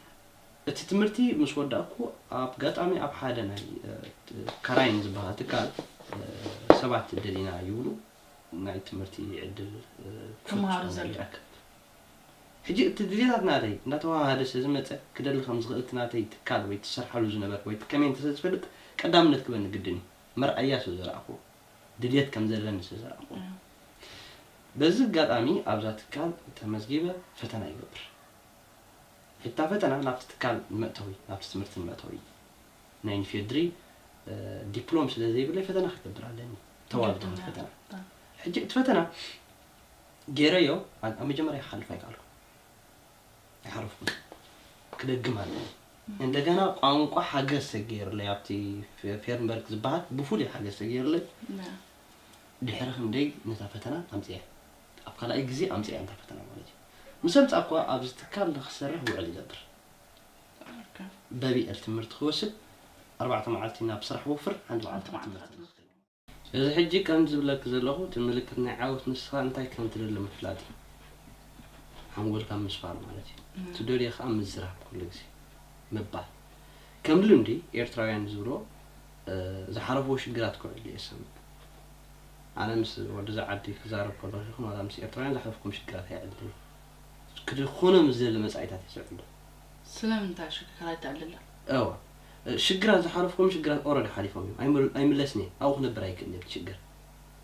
እቲ ትምህርቲ ምስ ወዳእኩ ኣብ ጋጣሚ ኣብ ሓደ ናይ ካራይን ዝበሃል ትካል ሰባት ደሊና ይብሉ ናይ ትምህርቲ ዕድል ተምሃሩ ዘለ ይረክብ ሕጂ እቲ ግዜታት ናተይ እንዳተዋሃሃደ ስለ ዝመጸ ክደሊ ከም ዝኽእል እቲ ናተይ ትካል ወይ ትሰርሓሉ ዝነበር ወይ ትከመይ እንተ ስለ ዝፈልጥ ቀዳምነት ክበኒ ግድን እዩ መርኣያ ስለ ዘርኣኹ ድልየት ከም ዘለኒ ስለ ዘርኣኹ በዚ ጋጣሚ ኣብዛ ትካል ተመዝጊበ ፈተና ይገብር እታ ፈተና ናብቲ ትካል ንመእተዊ ናብቲ ትምህርቲ ንመእተዊ ናይ ንፌድሪ ዲፕሎም ስለ ዘይብለይ ፈተና ክገብር ኣለኒ ተዋልዶ ፈተና ሕጂ እቲ ፈተና ገይረዮ ኣብ መጀመርያ ክሓልፍ ኣይከኣልኩ ኣይሓለፍኩ ክደግም ኣለኒ እንደገና ቋንቋ ሓገዝ ተገይርለይ ኣብቲ ፌርንበርግ ዝበሃል ብፍሉይ ሓገዝ ተገይርለይ ድሕሪ ክንደይ ነታ ፈተና ኣምፅያ ኣብ ካልኣይ ግዜ ኣምጺኣ እንተ ፈተና ማለት እዩ ምስ ኣምጻእኩዋ ኣብዚ ትካል ንክሰርሕ ውዕል ይገብር በቢኤል ትምህርቲ ክወስድ ኣርባዕተ መዓልቲ ናብ ስራሕ ወፍር ሓንቲ መዓልቲ ኣብ ትምህርቲ ንክከይድ እዚ ሕጂ ከምዚ ዝብለኪ ዘለኩ እቲ ምልክት ናይ ዓወት ንስካ እንታይ ከም ትደሊ ምፍላጥ እዩ ሓንጎልካ ምስፋር ማለት እዩ ትደልዮ ከኣ ምዝራብ ኩሉ ግዜ ምባል ከም ልምዲ ኤርትራውያን ዝብልዎ ዝሓለፍዎ ሽግራት ክውዕል እየ ዝሰምዕ ኣነ ምስ ወድዛ ዓዲ ክዛረብ ከለኩ ይኩን ዋላ ምስ ኤርትራውያን ዘሕለፍኩም ሽግራት ኣይዕድልን እዩ ክድኩኖም ዝደሊ መጻኢታት እዩ ዝዕድል። ስለምንታይ እሺ ክራይ ተዕልላ? እወ ሽግራት ዝሓለፍኩም ሽግራት ኦረዲ ሓሊፎም እዮም ኣይም ኣይምለስን እየ ኣብኡ ክነብር ኣይክእልን እየ እቲ ሽግር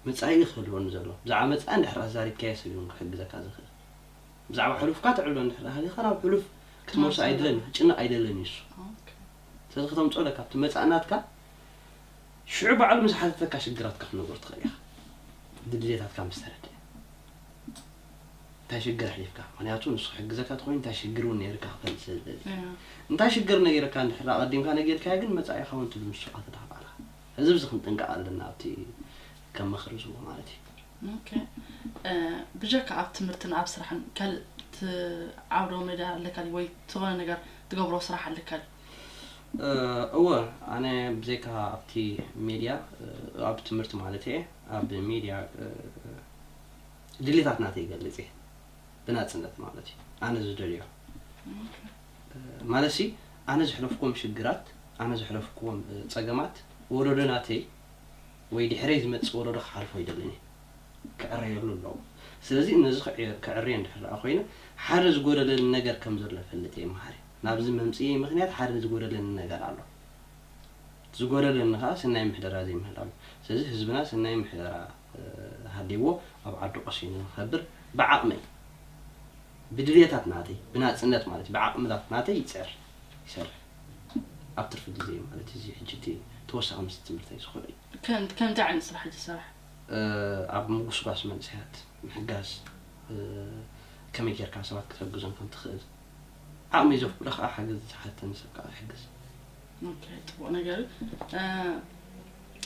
መጻኢ እዩ ክህልወኒ ዘሎ ብዛዕባ መጻኢ እንድሕር ኣዛሪብካዮ ሰብ እዩ ውን ክሕግዘካ ዝክእል ብዛዕባ ሕሉፍካ ትዕሎ እንድሕር ሃሊካ ናብ ሕሉፍ ክትመልሶ ኣይደልን ክጭነቅ ኣይደልን እዩ እሱ ኦኬ። ስለዚ ከተምጽኦ ኣለካ ኣብቲ መጻኢ ናትካ ሽዑ ባዕሉ ምስ ሓተተካ ሽግራትካ ክትነግሮ ትኽእል ኢኻ ድልየታትካ ምስ ተረድኣ እንታይ ሽግር ኣሕሊፍካ ምክንያቱ ንሱ ክሕግዘካ ተኮይኑ እንታይ ሽግር እውን ነይርካ ክፈልጥ ስለ ዝደሊ እንታይ ሽግር ነይርካ እንድሕር ኣቐዲምካ ነጊርካዮ ግን መጻኢኻ እውን ትብል ንሱ ከተዳኽባላ እዚ ብዚ ክንጥንቀቕ ኣለና ኣብቲ ከም ምኽሪ ዝቦ ማለት እዩ ኦኬ ብጀካ ኣብ ትምህርትን ኣብ ስራሕን ካልእ ትዓብዶ መዳ ኣለካ ድዩ ወይ ዝኾነ ነገር ትገብሮ ስራሕ ኣለካ ድዩ እወ ኣነ ብዘይካ ኣብቲ ሜድያ ኣብ ትምህርቲ ማለት እየ ኣብ ሜድያ ድሌታት ናተይ ይገልፅ እየ ብናፅነት ማለት እዩ ኣነ ዝደልዮ ማለት ኣነ ዘሕለፍኩም ሽግራት ኣነ ዘሕለፍኩም ፀገማት ወለዶ ናተይ ወይ ድሕረይ ዝመፅእ ወለዶ ክሓልፎ ይደልን እየ ክዕረየሉ ኣለዎ ስለዚ ነዚ ክዕርየ እንድሕር ኮይነ ሓደ ዝጎደለኒ ነገር ከም ዘሎ ፈልጥ እየ መሃሪ ናብዚ መምጽኢየይ ምኽንያት ሓደ ዝጎደለኒ ነገር ኣሎ። እቲ ዝጎደለኒ ከኣ ሰናይ ምሕደራ ዘይምህላው እዩ። ስለዚ ህዝብና ሰናይ ምሕደራ ሃልይዎ ኣብ ዓዱ ቀሲኑ ንኽከብር ብዓቕመይ ብድልየታት ናተይ ብናጽነት ማለት እዩ ብዓቕምታት ናተይ ይጽዕር ይሰርሕ ኣብ ትርፊ ግዜይ ማለት እዩ። እዚ ሕጂ እቲ ተወሳኺ ምስቲ ትምህርተይ ዝኸዶ እዩ። ከምታይ ዓይነት ስራሕ እዩ ትሰርሕ? ኣብ ምጉስጓስ መንእሰያት ምሕጋዝ ከመይ ጌርካ ሰባት ክትሕግዞም ከም ትኽእል። ዓቕሚ ዘፍቅዶ ከኣ ሓገዝ ዝሓተን ሰብ ከኣ ይሕግዝ። ኦኬ ጽቡቅ ነገር እዩ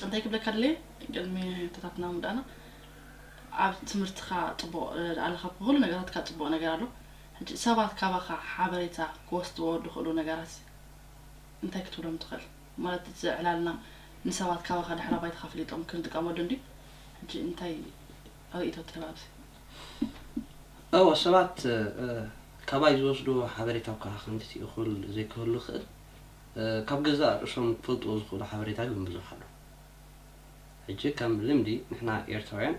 እንታይ ክብለካ ደልየ ቅድሚ ሕቶታትና ምውዳእና ኣብ ትምህርትካ ጽቡቅ ኣለካ ኣብ ኩሉ ነገራትካ ጽቡቅ ነገር ኣሎ ሕጂ ሰባት ካባካ ሓበሬታ ክወስድዎ ድክእሉ ነገራት እንታይ ክትብሎም ትክእል ማለት እዚ ዕላልና ንሰባት ካባካ ድሕረ ባይታካ ፈሊጦም ክንጥቀመሉ እንድዩ ሕጂ እንታይ ርእይቶ ትህብ ኣብዚ እወ ሰባት ካባይ ዝወስድዎ ሓበሬታ እኳ ከምቲ እኹል ዘይክህሉ ይኽእል፣ ካብ ገዛእ ርእሶም ክፈልጥዎ ዝኽእሉ ሓበሬታ ግን ብዙሕ ኣሎ። ሕጂ ከም ልምዲ ንሕና ኤርትራውያን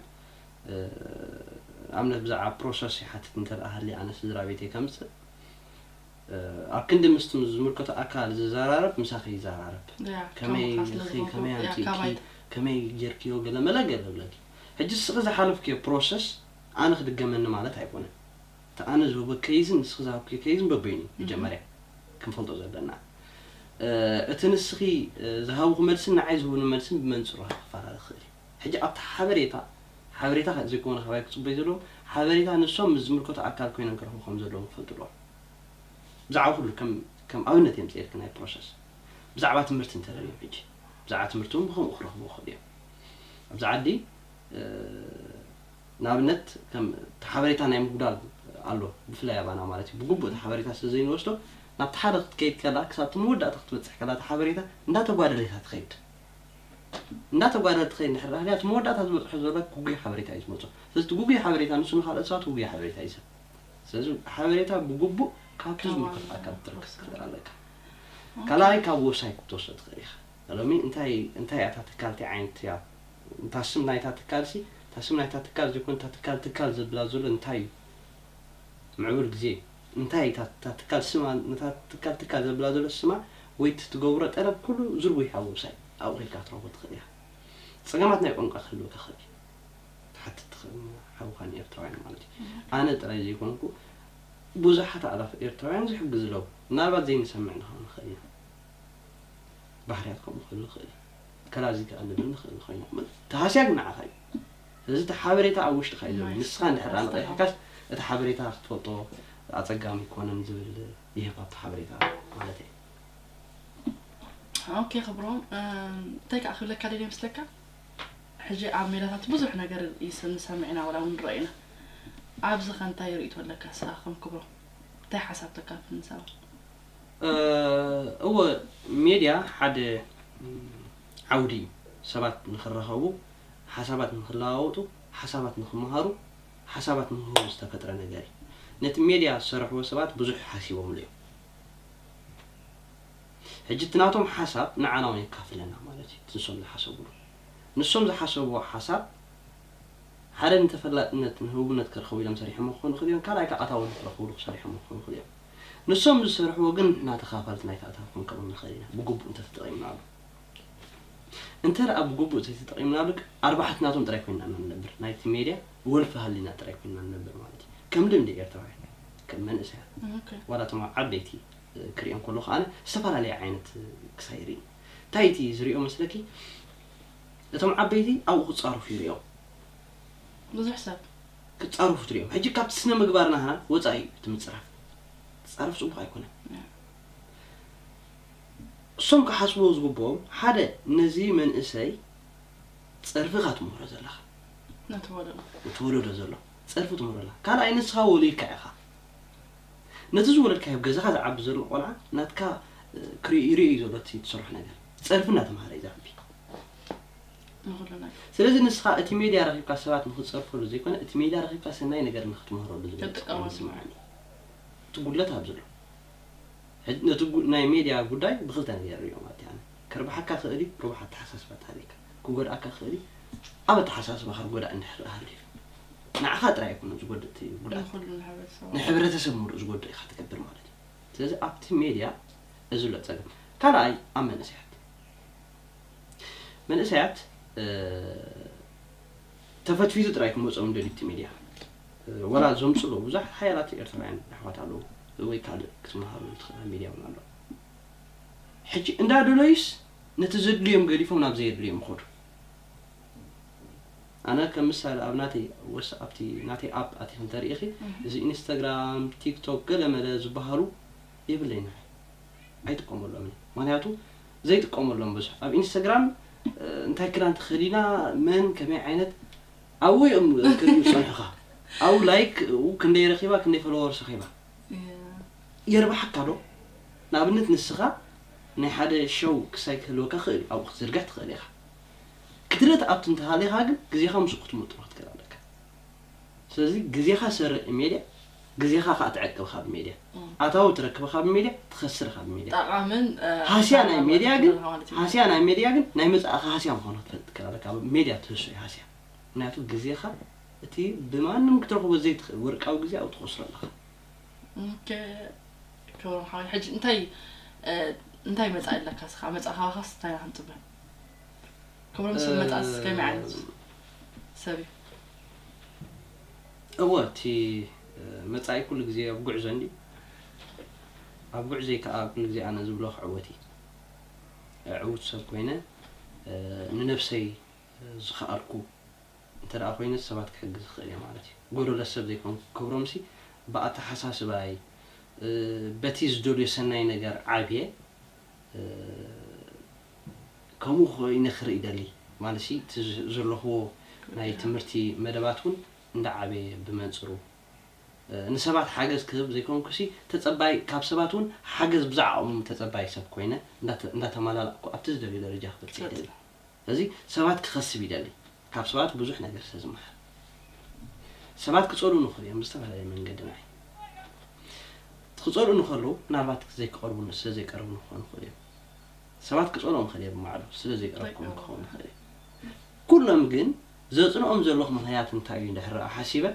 ንኣብነት ብዛዕባ ፕሮሰስ ይሓትት እንተደኣ ሃልየ ኣነ ስድራቤተይ ከምጽእ ኣብ ክንዲ ምስቲ ዝምልከቶ ኣካል ዝዘራረብ ምሳኺ ይዘራረብ። ከመይ ኢኺ ከመይ ኣምጺእኪ ከመይ ጌርክዮ ገለመለ ገለ እብለኪ። ሕጂ ንስኺ ዝሓለፍክዮ ፕሮሰስ ኣነ ክድገመኒ ማለት ኣይኮነን እቲ ኣነ ዝህቦ ኬይዝን ንስኺ ዝሃብክዮ ኬይዝን በበይኑ እዩ መጀመርያ ክንፈልጦ ዘለና እቲ ንስኺ ዝሃብኹ መልስን ንዓይ ዝህቡኒ መልስን ብመንጽሩ ከኣ ክፈላለ ክኽእል እዩ ሕጂ ኣብቲ ሓበሬታ ሓበሬታ ዘይኮነ ካባይ ክጽበዩ ዘለዎም ሓበሬታ ንሶም ምስ ዝምልከቶ ኣካል ኮይኖም ክረኽቡ ከም ዘለዎም ክፈልጡ ኣለዎም ብዛዕባ ኩሉ ከም ከም ኣብነት የምጽኤልኪ ናይ ፕሮሰስ ብዛዕባ ትምህርቲ እንተደልዮም ሕጂ ብዛዕባ ትምህርቲ እውን ብከምኡ ክረኽቡ ክኽእሉ እዮም ኣብዚ ዓዲ ንኣብነት ከም እቲ ሓበሬታ ናይ ምጉዳል ኣሎ ብፍላይ ኣባና ማለት እዩ ብግቡእ እቲ ሓበሬታ ስለ ዘይንወስዶ ናብቲ ሓደ ክትከይድ ከላ ክሳብ እቲ መወዳእታ ክትበፅሕ ከላ እቲ ሓበሬታ እንዳተጓደለ ኢኻ ትኸይድ እንዳተጓደለ ትኸይድ እንድሕር ዳሃልያ እቲ መወዳእታ ዝበፅሖ ዘሎ ጉጉይ ሓበሬታ እዩ ዝመፆ ስለዚ እቲ ጉጉይ ሓበሬታ ንሱ ንካልኦት ሰባት ጉጉይ ሓበሬታ እዩ ሰብ ስለዚ ሓበሬታ ብግቡእ ካብቲ ዝምልከቶ ኣካል ክትረክብ ትኽእል ኣለካ ካልኣይ ካብ ወብሳይት ክትወስዶ ትኽእል ኢኻ ሎሚ እንታይ እንታይ እያ እታ ትካል ታይ ዓይነት እያ እታ ስም ናይታ ትካል ሲ እታ ስም ናይታ ትካል ዘይኮነ እታ ትካል ትካል ዘብላ ዘሎ እንታይ እዩ ምዕቡል ግዜ እንታይ እታ እታ ትካል ስማ ነታ ትካል ትካል ዘብላ ዘሎ ስማ ወይ እቲ ትገብሮ ጠለብ ኩሉ ዝርጉሕ ኣብ ወብሳይት ኣብኡ ከድካ ክትረኽቦ ትኽእል ኢኻ ጸገማት ናይ ቋንቋ ክህልወካ ይኽእል እዩ ትሓትት ትኽእል ንሓውካ ንኤርትራውያን ማለት እዩ ኣነ ጥራይ ዘይኮንኩ ብዙሓት ኣእላፍ ኤርትራውያን ዝሕግዝ ኣለዉ ምናልባት ዘይንሰምዕ ንኸውን ንኽእል ኢና ባህርያት ከምኡ ክህሉ ይኽእል እዩ። ከላ እዚ ክዕሊ ዶ ንኽእል ንኸይኑ ክብል እቲ ሃስያ ግን ንዓኻ እዩ። ስለዚ እቲ ሓበሬታ ኣብ ውሽጥኻ እዩ ዘሎ። ንስኻ እንድሕር ደኣ ንቐይሕካስ እቲ ሓበሬታ ክትፈልጦ ኣጸጋሚ ኣይኮነን ዝብል ይህብ ኣብቲ ሓበሬታ ማለተይ እዩ። ኦኬ ክብሮም እንታይ ከኣ ክብለካ ደልየ መስለካ ሕጂ ኣብ ሜዳታት ብዙሕ ነገር ንሰምዕ ኢና ወላ እውን ንረኦ ኢና ኣብዚ ከ እንታይ ርእይቶ ኣለካ ንስኻ ከም ክብሮም እንታይ ሓሳብ ተካፍል ንሰባት? እወ ሜድያ ሓደ ዓውዲ እዩ ሰባት ንክራኸቡ ሓሳባት ንክለዋወጡ ሓሳባት ንክመሃሩ ሓሳባት ንክህቡ ዝተፈጥረ ነገር እዩ ነቲ ሜድያ ዝሰርሕዎ ሰባት ብዙሕ ሓሲቦምሉ እዮም ሕጂ እቲ ናቶም ሓሳብ ንዓና እውን የካፍለና ማለት እዩ ንሶም ዝሓሰብሉ ንሶም ዝሓሰብዎ ሓሳብ ሓደ ንተፈላጥነት ንህቡብነት ክረኸቡ ኢሎም ሰሪሖሞ ክኾኑ ይኽእሉ እዮም ካልኣይ ከዓ ኣታዊ ንክረኽብሉ ክሰሪሖሞ ክኾኑ ይኽእሉ እዮም ንሶም ዝሰርሕዎ ግን ንሕና ተኻፋልቲ ናይቲ ኣታዊ ክንከውን ንኽእል ኢና ብግቡእ እንተተጠቒምናሉ። እንተደኣ ብግቡእ ዘይተጠቒምናሉ ግን ኣርባሕቲ ናቶም ጥራይ ኮይንና ኢና ንነብር፣ ናይቲ ሜድያ ወልፊ ሃሊና ጥራይ ኮይንና ንነብር ማለት እዩ። ከም ልምዲ ኤርትራውያን ከም መንእሰያት ዋላ እቶም ኣብ ዓበይቲ ክሪኦም ከለኹ ኣነ ዝተፈላለየ ዓይነት ክሳይ ይርኢ። እንታይ እቲ ዝሪኦ መስለኪ እቶም ዓበይቲ ኣብኡ ክጻረፉ ይሪኦም። ብዙሕ ሰብ። ክጻረፉ ትሪኦም ሕጂ ካብቲ ስነ ምግባር ናህና ወጻኢ እዩ እቲ ምጽራፍ ክትጻረፍ ጽቡቅ ኣይኮነን እሶም ክሓስብዎ ዝግብኦም ሓደ ነዚ መንእሰይ ጸርፊ ኢካ ትምህሮ ዘለካ ነቲ ወለዶ ነቲ ወለዶ ዘሎ ጸርፊ ትምህሮ ኣለካ ካልኣይ ንስካ ወሊድካ ኢካ ነቲ ዝወለድካዮ ኣብ ገዛካ ዝዓቢ ዘሎ ቆልዓ ናትካ ክርኢ ይርኢ እዩ ዘሎ እቲ ትሰርሖ ነገር ጸርፊ እናተማሃረ እዩ ዝዓቢ ንኹልና። ስለዚ ንስኻ እቲ ሜድያ ረኺብካ ሰባት ንኽትጸርፈሉ ዘይኮነ እቲ ሜድያ ረኺብካ ሰናይ ነገር ንኽትምህረሉ ዝብል ጽልዋ ትጥቀመሉ። ይስምዓኒ። እቲ ጉድለት ኣብዚ ኣሎ። ሕጂ ነቲ ጉ ናይ ሜድያ ጉዳይ ብኽልተ ነገር እየ ርእዮ ማለት እዩ ኣነ። ከርብሓካ ይኽእል እዩ ርቡሕ ኣተሓሳስባ እንተሃልዩካ። ክጎድኣካ ይኽእል እዩ ኣብ ኣተሓሳስባኻ ርጎዳኢ እንድሕር ደኣ ሃልዩ። ንዓኻ ጥራይ ኣይኮነን ዝጎድእ እቲ ጉድኣት። ንኹሉ ንሕብረተሰብ ማለት እዩ። ንሕብረተሰብ ምሉእ ዝጎድእ ኢኻ ትገብር ማለት እዩ። ስለዚ ኣብቲ ሜድያ እዚ ኣሎ ጸገም። ካልኣይ ኣብ መንእሰያት። መንእሰያት ተፈትፊቱ ጥራይ ክመጾም ደልዩ እቲ ሚድያ ወላ ዘምጽሉ ብዙሓት ሓያላት ኤርትራውያን ኣሕዋት ኣለዉ ወይ ካልእ ክትመሃረሉ ትኽእል ኣብ ሚድያ እውን ኣሎ ሕጂ እንዳደለዩስ ነቲ ዘድልዮም ገዲፎም ናብ ዘየድልዮም ይኸዱ ኣነ ከም ምሳሌ ኣብ ናተይ ወስ ኣብቲ ናተይ ኣፕ ኣቲኺ እንተርኢኺ እዚ ኢንስታግራም ቲክቶክ ገለ መለ ዝበሃሉ የብለይን ኣነ ኣይጥቀመሎምን እየ ምክንያቱ ዘይጥቀመሎም ብዙሕ ኣብ ኢንስታግራም እንታይ ክዳን ተኸዲና መን ከመይ ዓይነት ኣብኡ እዮም ክሪኡ ዝፀንሑኻ ኣብኡ ላይክ ክንደይ ረኺባ ክንደይ ፈለወርስ ረኺባ የርባሓካ ዶ ንኣብነት ንስኻ ናይ ሓደ ሸው ክሳይ ክህልወካ ክእል እዩ ኣብኡ ክትዝርግሕ ትኽእል ኢኻ ክትርኢ ትኣቱ እንተሃሊኻ ግን ግዜኻ ምስኡ ክትምጥኖ ክትክእል ኣለካ ስለዚ ግዜኻ ሰርቅ ንሜድያ ግዜኻ ካኣ ትዕቅብ ካብ ሜድያ ኣታዊ ትረክብ ካብ ሜድያ ትኸስር ካብ ሜድያ ጠቃምን ሃስያ ናይ ሜድያ ግን ሃስያ ናይ ሜድያ ግን ናይ መጻእኻ ሃስያ ምዃኑ ክትፈልጥ ትክእል ኣለካ ኣብ ሜድያ ትህሶ እዩ ሃስያ ምክንያቱ ግዜኻ እቲ ብማንም ክትረኽቦ ዘይትኽእል ወርቃዊ ግዜ ኣብኡ ትኸስሮ ኣለኻ ክብሮም ሓወይ ሕጂ እንታይ እንታይ መጻኢ ኣለካ ስኻ መጻኢ ካባኻስ እንታይ ኢና ክንጽበ ክብሮም ሰብ መጣስ ከመይ ዓይነት ሰብ እዩ? እወ እቲ መጻኢ ኩሉ ግዜ ኣብ ጉዕዞ እንድዩ ኣብ ጉዕዞይ ከኣ ኩሉ ግዜ ኣነ ዝብሎ ክዕወት እየ ዕውት ሰብ ኮይነ ንነብሰይ ዝኸኣልኩ እንተደኣ ኮይነ ሰባት ክሕግዝ ይኽእል እየ ማለት እዩ ጎደሎ ሰብ ዘይኮንኩ ክብሮምሲ ብኣተሓሳስባይ በቲ ዝደልዮ ሰናይ ነገር ዓብየ ከምኡ ኮይኑ ክርኢ ይደሊ ማለትሲ እቲ ዘለክዎ ናይ ትምህርቲ መደባት ውን እንዳዓበየ ብመንጽሩ ንሰባት ሓገዝ ክህብ ዘይኮንኩሲ ተጸባይ ካብ ሰባት ውን ሓገዝ ብዝዓቕሞም ተጸባይ ሰብ ኮይነ እንዳተማላላእኩ ኣብቲ ዝደልዮ ደረጃ ክበጽሕ ይደሊ። እዚ ሰባት ክኸስብ ይደሊ ካብ ሰባት ብዙሕ ነገር ስለ ዝመሃር ሰባት ክጸልኡኒ ይኽእሉ እዮም ብዝተፈላለየ መንገዲ ንዓይ እቲ ክጸልኡኒ ከለዉ ምናልባት ዘይክቐርቡኒ ስለ ዘይቀረቡኒ ክኾኑ ይኽእሉ እዮም ሰባት ክጸልኦም ይኽእል እየ ብማዕዶ ስለ ዘይቀረብኩም ክኸውን ይኽእል እዩ ኩሎም ግን ዘጽንኦም ዘለኹ ምኽንያት እንታይ እዩ እንድሕር ረኣ ሓሲበ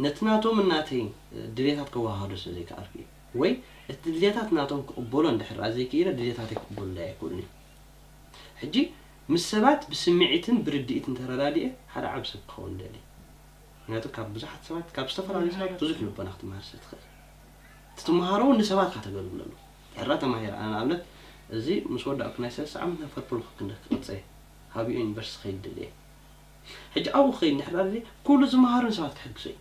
ነቲ ናቶምን ናተይን ድሌታት ከወሃሃዶ ስለ ዘይከኣልኩ እዩ ወይ እቲ ድሌታት ናቶም ክቕበሎ እንድሕር ረኣ ዘይክኢለ ድሌታተይ ክቕበሉለይ ኣይክእሉን እዮም ሕጂ ምስ ሰባት ብስሚዒትን ብርዲኢትን ተረዳዲኤ ሓደ ዓቢ ሰብ ክኸውን እደሊ ምክንያቱ ካብ ብዙሓት ሰባት ካብ ዝተፈላለዩ ሰባት ብዙሕ ልቦና ክትማሃር ስለ ትክእል እቲ ትማሃሮ ውን ንሰባት ኢካ ተገልግለሉ ሕራ ተማሂረ ኣነ ንኣብነት እዚ ምስ ወዳእኩ ናይ ሰለስተ ዓመት ናብ ፈርፕሉክ ክንደ ክቅጽ እየ ሃብኦ ዩኒቨርስቲ ክከይድ እደሊ እየ ሕጂ ኣብኡ ክከይድ እንድሕር ኣደልየ ኩሉ ዝማሃሮ ንሰባት ክሕግዞ እዩ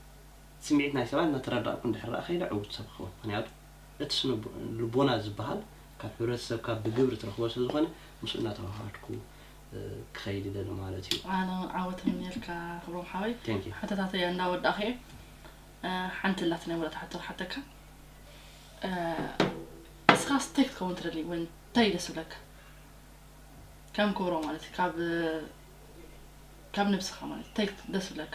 ስሚዒት ናይ ሰባት እንዳተረዳእኩ እንድሕር ከይደ ዕውት ሰብ ክከውን ምክንያቱ እቲ ስነ ልቦና ዝበሃል ካብ ሕብረተሰብካ ብግብሪ ትረኽቦ ስለ ዝኾነ ምስኡ እናተዋሃሃድኩ ክኸይድ ይደሊ ማለት እዩ። ኣነ ውን ዓወት እምነየልካ ክብሮም ሓወይ። Thank you። ሕቶታተይ እንዳ ወዳእኩ እየ ሓንቲ ኣላትኒ ናይ መወዳእታ ሕቶ ክሓተካ እስኻስ እንታይ ክትከውን ትደሊ ወይ እንታይ እዩ ደስ ዝብለካ ከም ክብሮም ማለት እዩ ካብ ካብ ነብስኻ ማለት እዩ እንታይ ደስ ዝብለካ?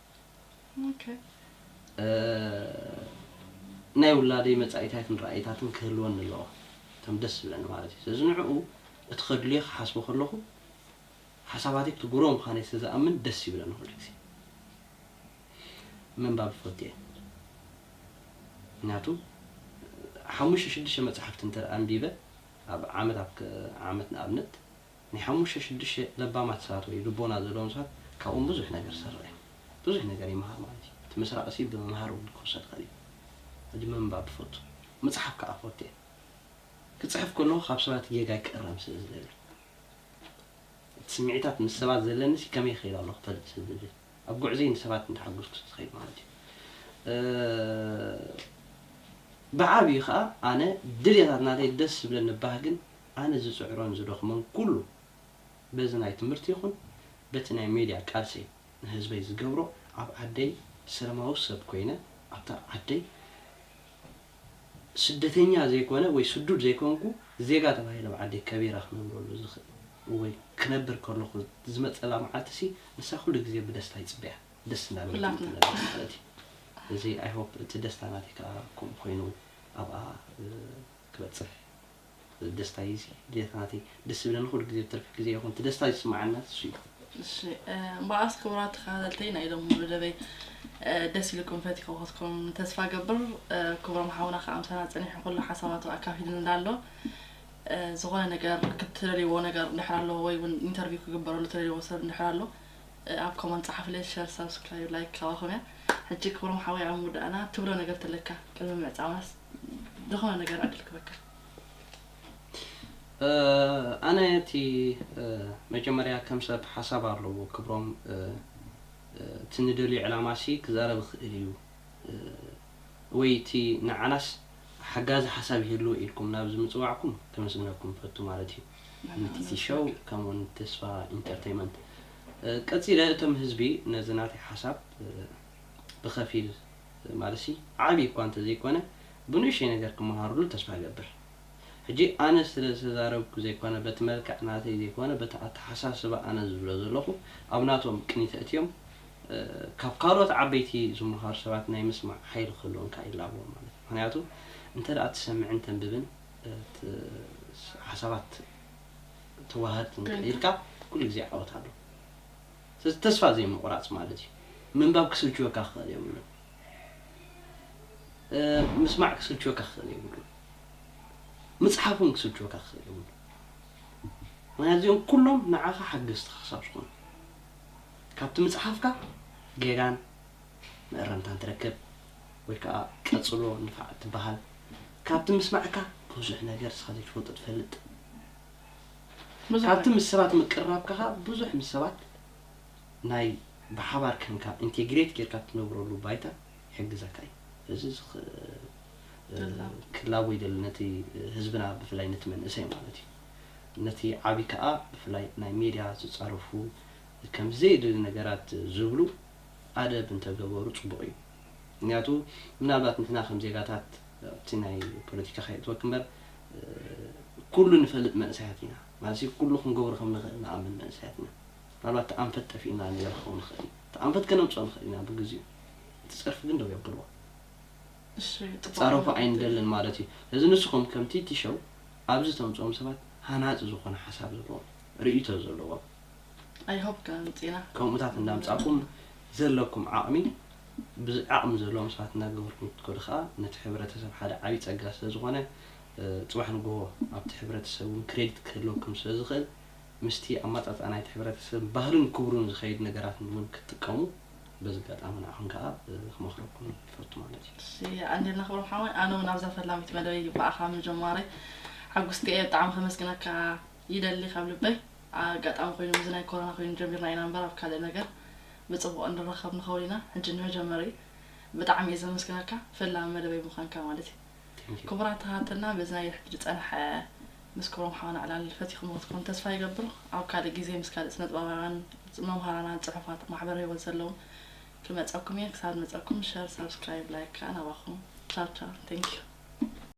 ናይ ውላደይ መጻኢታትን ራእይታትን ክህልወኒ ኣለዎ፣ ከም ደስ ዝብለኒ ማለት እዩ። ስለዚ ንዕኡ እቲ ከድልዮ ክሓስቦ ከለኹ ሓሳባተይ ክቡሮ ምዃነይ ስለ ዝኣምን ደስ ይብለኒ ኩሉ ግዜ። ምንባብ ይፈቱ እየ። ምክንያቱ ሓሙሽተ ሽዱሽተ መጻሕፍቲ እንተ ኣንቢበ ኣብ ዓመት ኣብ ዓመት ንኣብነት ናይ ሓሙሽተ ሽዱሽተ ለባማት ሰባት ወይ ልቦና ዘለዎም ሰባት ካብኦም ብዙሕ ነገር ዝስረቅ እዩ ብዙሕ ነገር ይምሃር ማለት እዩ እቲ ምስራቅ እሲ ብምምሃር እውን ክውሰድ ይክእል እዩ ሕጂ ምንባብ እፈቱ ምጽሓፍ ክኣ እፈቱ እየ ክጽሕፍ ከለኩ ካብ ሰባት ጌጋይ ክእረም ስለ ዝደሊ እቲ ስምዒታት ምስ ሰባት ዘለኒ ሲ ከመይ ይከይድ ኣሎ ክፈልጥ ስለ ዝደሊ ኣብ ጉዕዘይ ንሰባት እንዳሓጎስኩ ዝከይድ ማለት እዩ ብዓቢኡ ክኣ ኣነ ድልየታት ናተይ ደስ ዝብለኒ ባህግን ኣነ ዝጽዕሮን ዝደኽሞን ኩሉ በዚ ናይ ትምህርቲ ይኹን በቲ ናይ ሜድያ ቃልሰይ ንህዝበይ ዝገብሮ ኣብ ዓደይ ሰለማዊ ሰብ ኮይነ ኣብታ ዓደይ ስደተኛ ዘይኮነ ወይ ስዱድ ዘይኮንኩ ዜጋ ተባሂለ ኣብ ዓደይ ከቢረ ክነብረሉ ዝኽእል ወይ ክነብር ከለኹ ዝመጸላ መዓልቲሲ ንሳ ኩሉ ግዜ ብደስታ ይጽበያ ደስ እንዳበለትኒ ትነብር ማለት እዩ እዚ ኣይ ሆፕ እቲ ደስታ ናተይ ከኣ ከምኡ ኮይኑ ኣብኣ ክበጽሕ ደስታ እዩ እዚ ድያት ናተይ ደስ ዝብለኒ ኩሉ ግዜ ብትርፊ ግዜ ይኹን እቲ ደስታ ዝስምዓና እሱ እዩ። እሺ እምበኣስ ክቡራት ተኸታተልተይ ናይ ሎሚ መደበይ ደስ ኢልኩም ፈቲኸኸትኩም ተስፋ ገብር ክብሮም ሓውና ከዓ ምሳና ፀኒሑ ኩሉ ሓሳባቱ ኣካፊሉ እንዳሎ ዝኾነ ነገር ክትደልይዎ ነገር እንድሕር ኣሎ ወይ እውን ኢንተርቪው ክግበረሉ ትደልይዎ ሰብ እንድሕር ኣሎ ኣብ ኮመንት ጸሓፍለይ ሸር ሳብስክራይብ ላይክ ካባኹም እያ ሕጂ ክብሮም ሓወይ ኣብ ምውዳእና ትብሎ ነገር ተለካ ቅድሚ ምዕጻውናስ ዝኾነ ነገር ዕድል ክበካ። ኣነ እቲ መጀመርያ ከም ሰብ ሓሳብ ኣለዎ ክብሮም እቲ ንደልዮ ዕላማ ሲ ክዛረብ ይኽእል እዩ ወይ እቲ ንዓናስ ሓጋዚ ሓሳብ ይህልዎ ኢልኩም ናብዚ ምጽዋዕኩም ከመስግነኩም ይፈቱ ማለት እዩ ንቲቲ ሸው ከምኡ ውን ንተስፋ ኢንተርተይመንት ቀጺለ እቶም ህዝቢ ነዚ ናተይ ሓሳብ ብኸፊል ትማልሲ ዓቢ እኳ እንተዘይኮነ ብንእሽተይ ነገር ክመሃርሉ ተስፋ እገብር ሕጂ ኣነ ስለ ዝተዛረብኩ ዘይኮነ በቲ መልክዕ ናተይ ዘይኮነ በቲ ኣተሓሳስባ ኣነ ዝብሎ ዘለኹ ኣብ ናቶም ቅኒት ኣእትዮም ካብ ካልኦት ዓበይቲ ዝመሃሩ ሰባት ናይ ምስማዕ ሓይሊ ክህልዎም ከኣ ይላበዎም ማለት እዩ ምክንያቱ እንተ ትሰምዕን ተንብብን ሓሳባት ተዋሃድትን ከኢልካ ኩሉ ግዜ ዓወት ኣሎ ስለዚ ተስፋ ዘይምቑራጽ ማለት እዩ። ምንባብ ክስልችወካ ክኽእል የብሉን። ምስማዕ ክስልችወካ ክኽእል የብሉን። ምጽሓፍ እውን ክስልችወካ ክኽእል የብሉን። ምክንያቱ እዚኦም ኩሎም ንዓኻ ሓገዝትኻ ክሳብ ዝኾኑ ካብቲ ምጽሓፍካ ጌጋን መእረምታን ትረክብ ወይ ከዓ ቀጽሎ ንፋዕ ትበሃል ካብቲ ምስማዕካ ብዙሕ ነገር ንስኻ ዘይትፈልጦ ትፈልጥ ካብቲ ምስ ሰባት ምቅርራብካ ከኣ ብዙሕ ምስ ሰባት ናይ ብሓባር ከንካ ኢንቴግሬት ጌርካ ትነብረሉ ባይታ ይሕግዘካ እዩ። እዚ እዚ ክላቦ ይደሊ ነቲ ህዝብና ብፍላይ ነቲ መንእሰይ ማለት እዩ። ነቲ ዓቢ ከኣ ብፍላይ ናይ ሜድያ ዝጻረፉ ከም ዘየድሊ ነገራት ዝብሉ ኣደብ እንተገበሩ ጽቡቕ እዩ። ምክንያቱ ምናልባት ንሕና ከም ዜጋታት ኣብቲ ናይ ፖለቲካ ከየእትወኪ እምበር ኩሉ ንፈልጥ መንእሰያት ኢና ማለትሲ ኩሉ ክንገብሮ ከም ንኽእል ንኣምን መንእሰያት ኢና ምናልባት እቲ ኣንፈት ጠፊኡና ነይሩ ክኸውን ይኽእል እዩ እቲ ኣንፈት ከነምጽኦ ንኽእል ኢና ብግዚኡ እቲ ጸርፊ ግን ደው የብልዎ ክጻረፉ ኣይንደልን ማለት እዩ ስለዚ ንስኹም ከም ቲቲ ሸው ኣብዚ ተምጽኦም ሰባት ሃናጺ ዝኾነ ሓሳብ ዘለዎም ርእይቶ ዘለዎም I hope ከምጽና። ከምኡታት እንዳምጻኩም ዘለኩም ዓቅሚ ብዚ ዓቅሚ ዘለዎም ሰባት እንዳገበርኩም ክትከዱ ከኣ ነቲ ሕብረተሰብ ሓደ ዓቢ ጸጋ ስለ ዝኮነ ጽባሕ ንግሆ ኣብቲ ሕብረተሰብ ውን ክሬዲት ክህልወኩም ስለ ዝክእል ምስቲ ኣማጻጽኣ ናይቲ ሕብረተሰብ ባህሉን ክብሩን ዝከይድ ነገራት ውን ክትጥቀሙ በዚ ኣጋጣሚ ንዓኩም ከኣ ክመክረኩም ይፈቱ ማለት እዩ። እሺ የቀንየልና ክብሮም ሓወይ ኣነ ውን ኣብዛ ፈላሚት መደበይ ብኣኻ ምጀማረይ ሓጉስቲ እየ ብጣዕሚ ከመስግነካ ይደሊ ካብ ልበይ ኣጋጣሚ ኮይኑ ምስዚ ናይ ኮሮና ኮይኑ ጀሚርና ኢና እምበር ኣብ ካልእ ነገር ብጽቡቅ እንራከብ ንከውን ኢና ሕጂ ንመጀመሪ ብጣዕሚ እየ ዘመስግነካ ፈላሚ መደበይ ምኳንካ ማለት እዩ Thank you ክቡራት ኣሃትና በዚ ናይ ሕጂ ዝጸንሐ ምስ ክብሮም ሓውና ዕላል ፈቲክሞ ክትኮኑ ተስፋ ይገብር ኣብ ካልእ ግዜ ምስ ካልእ ስነጥበባውያን መምሃራናን ጽሑፋት ማሕበረ ሂወት ዘለዎም ክመጸኩም እየ ክሳብ ንመጸኩም ሸር ሳብስክራይብ ላይክ ከኣ ናባኩም ቻው ቻው Thank you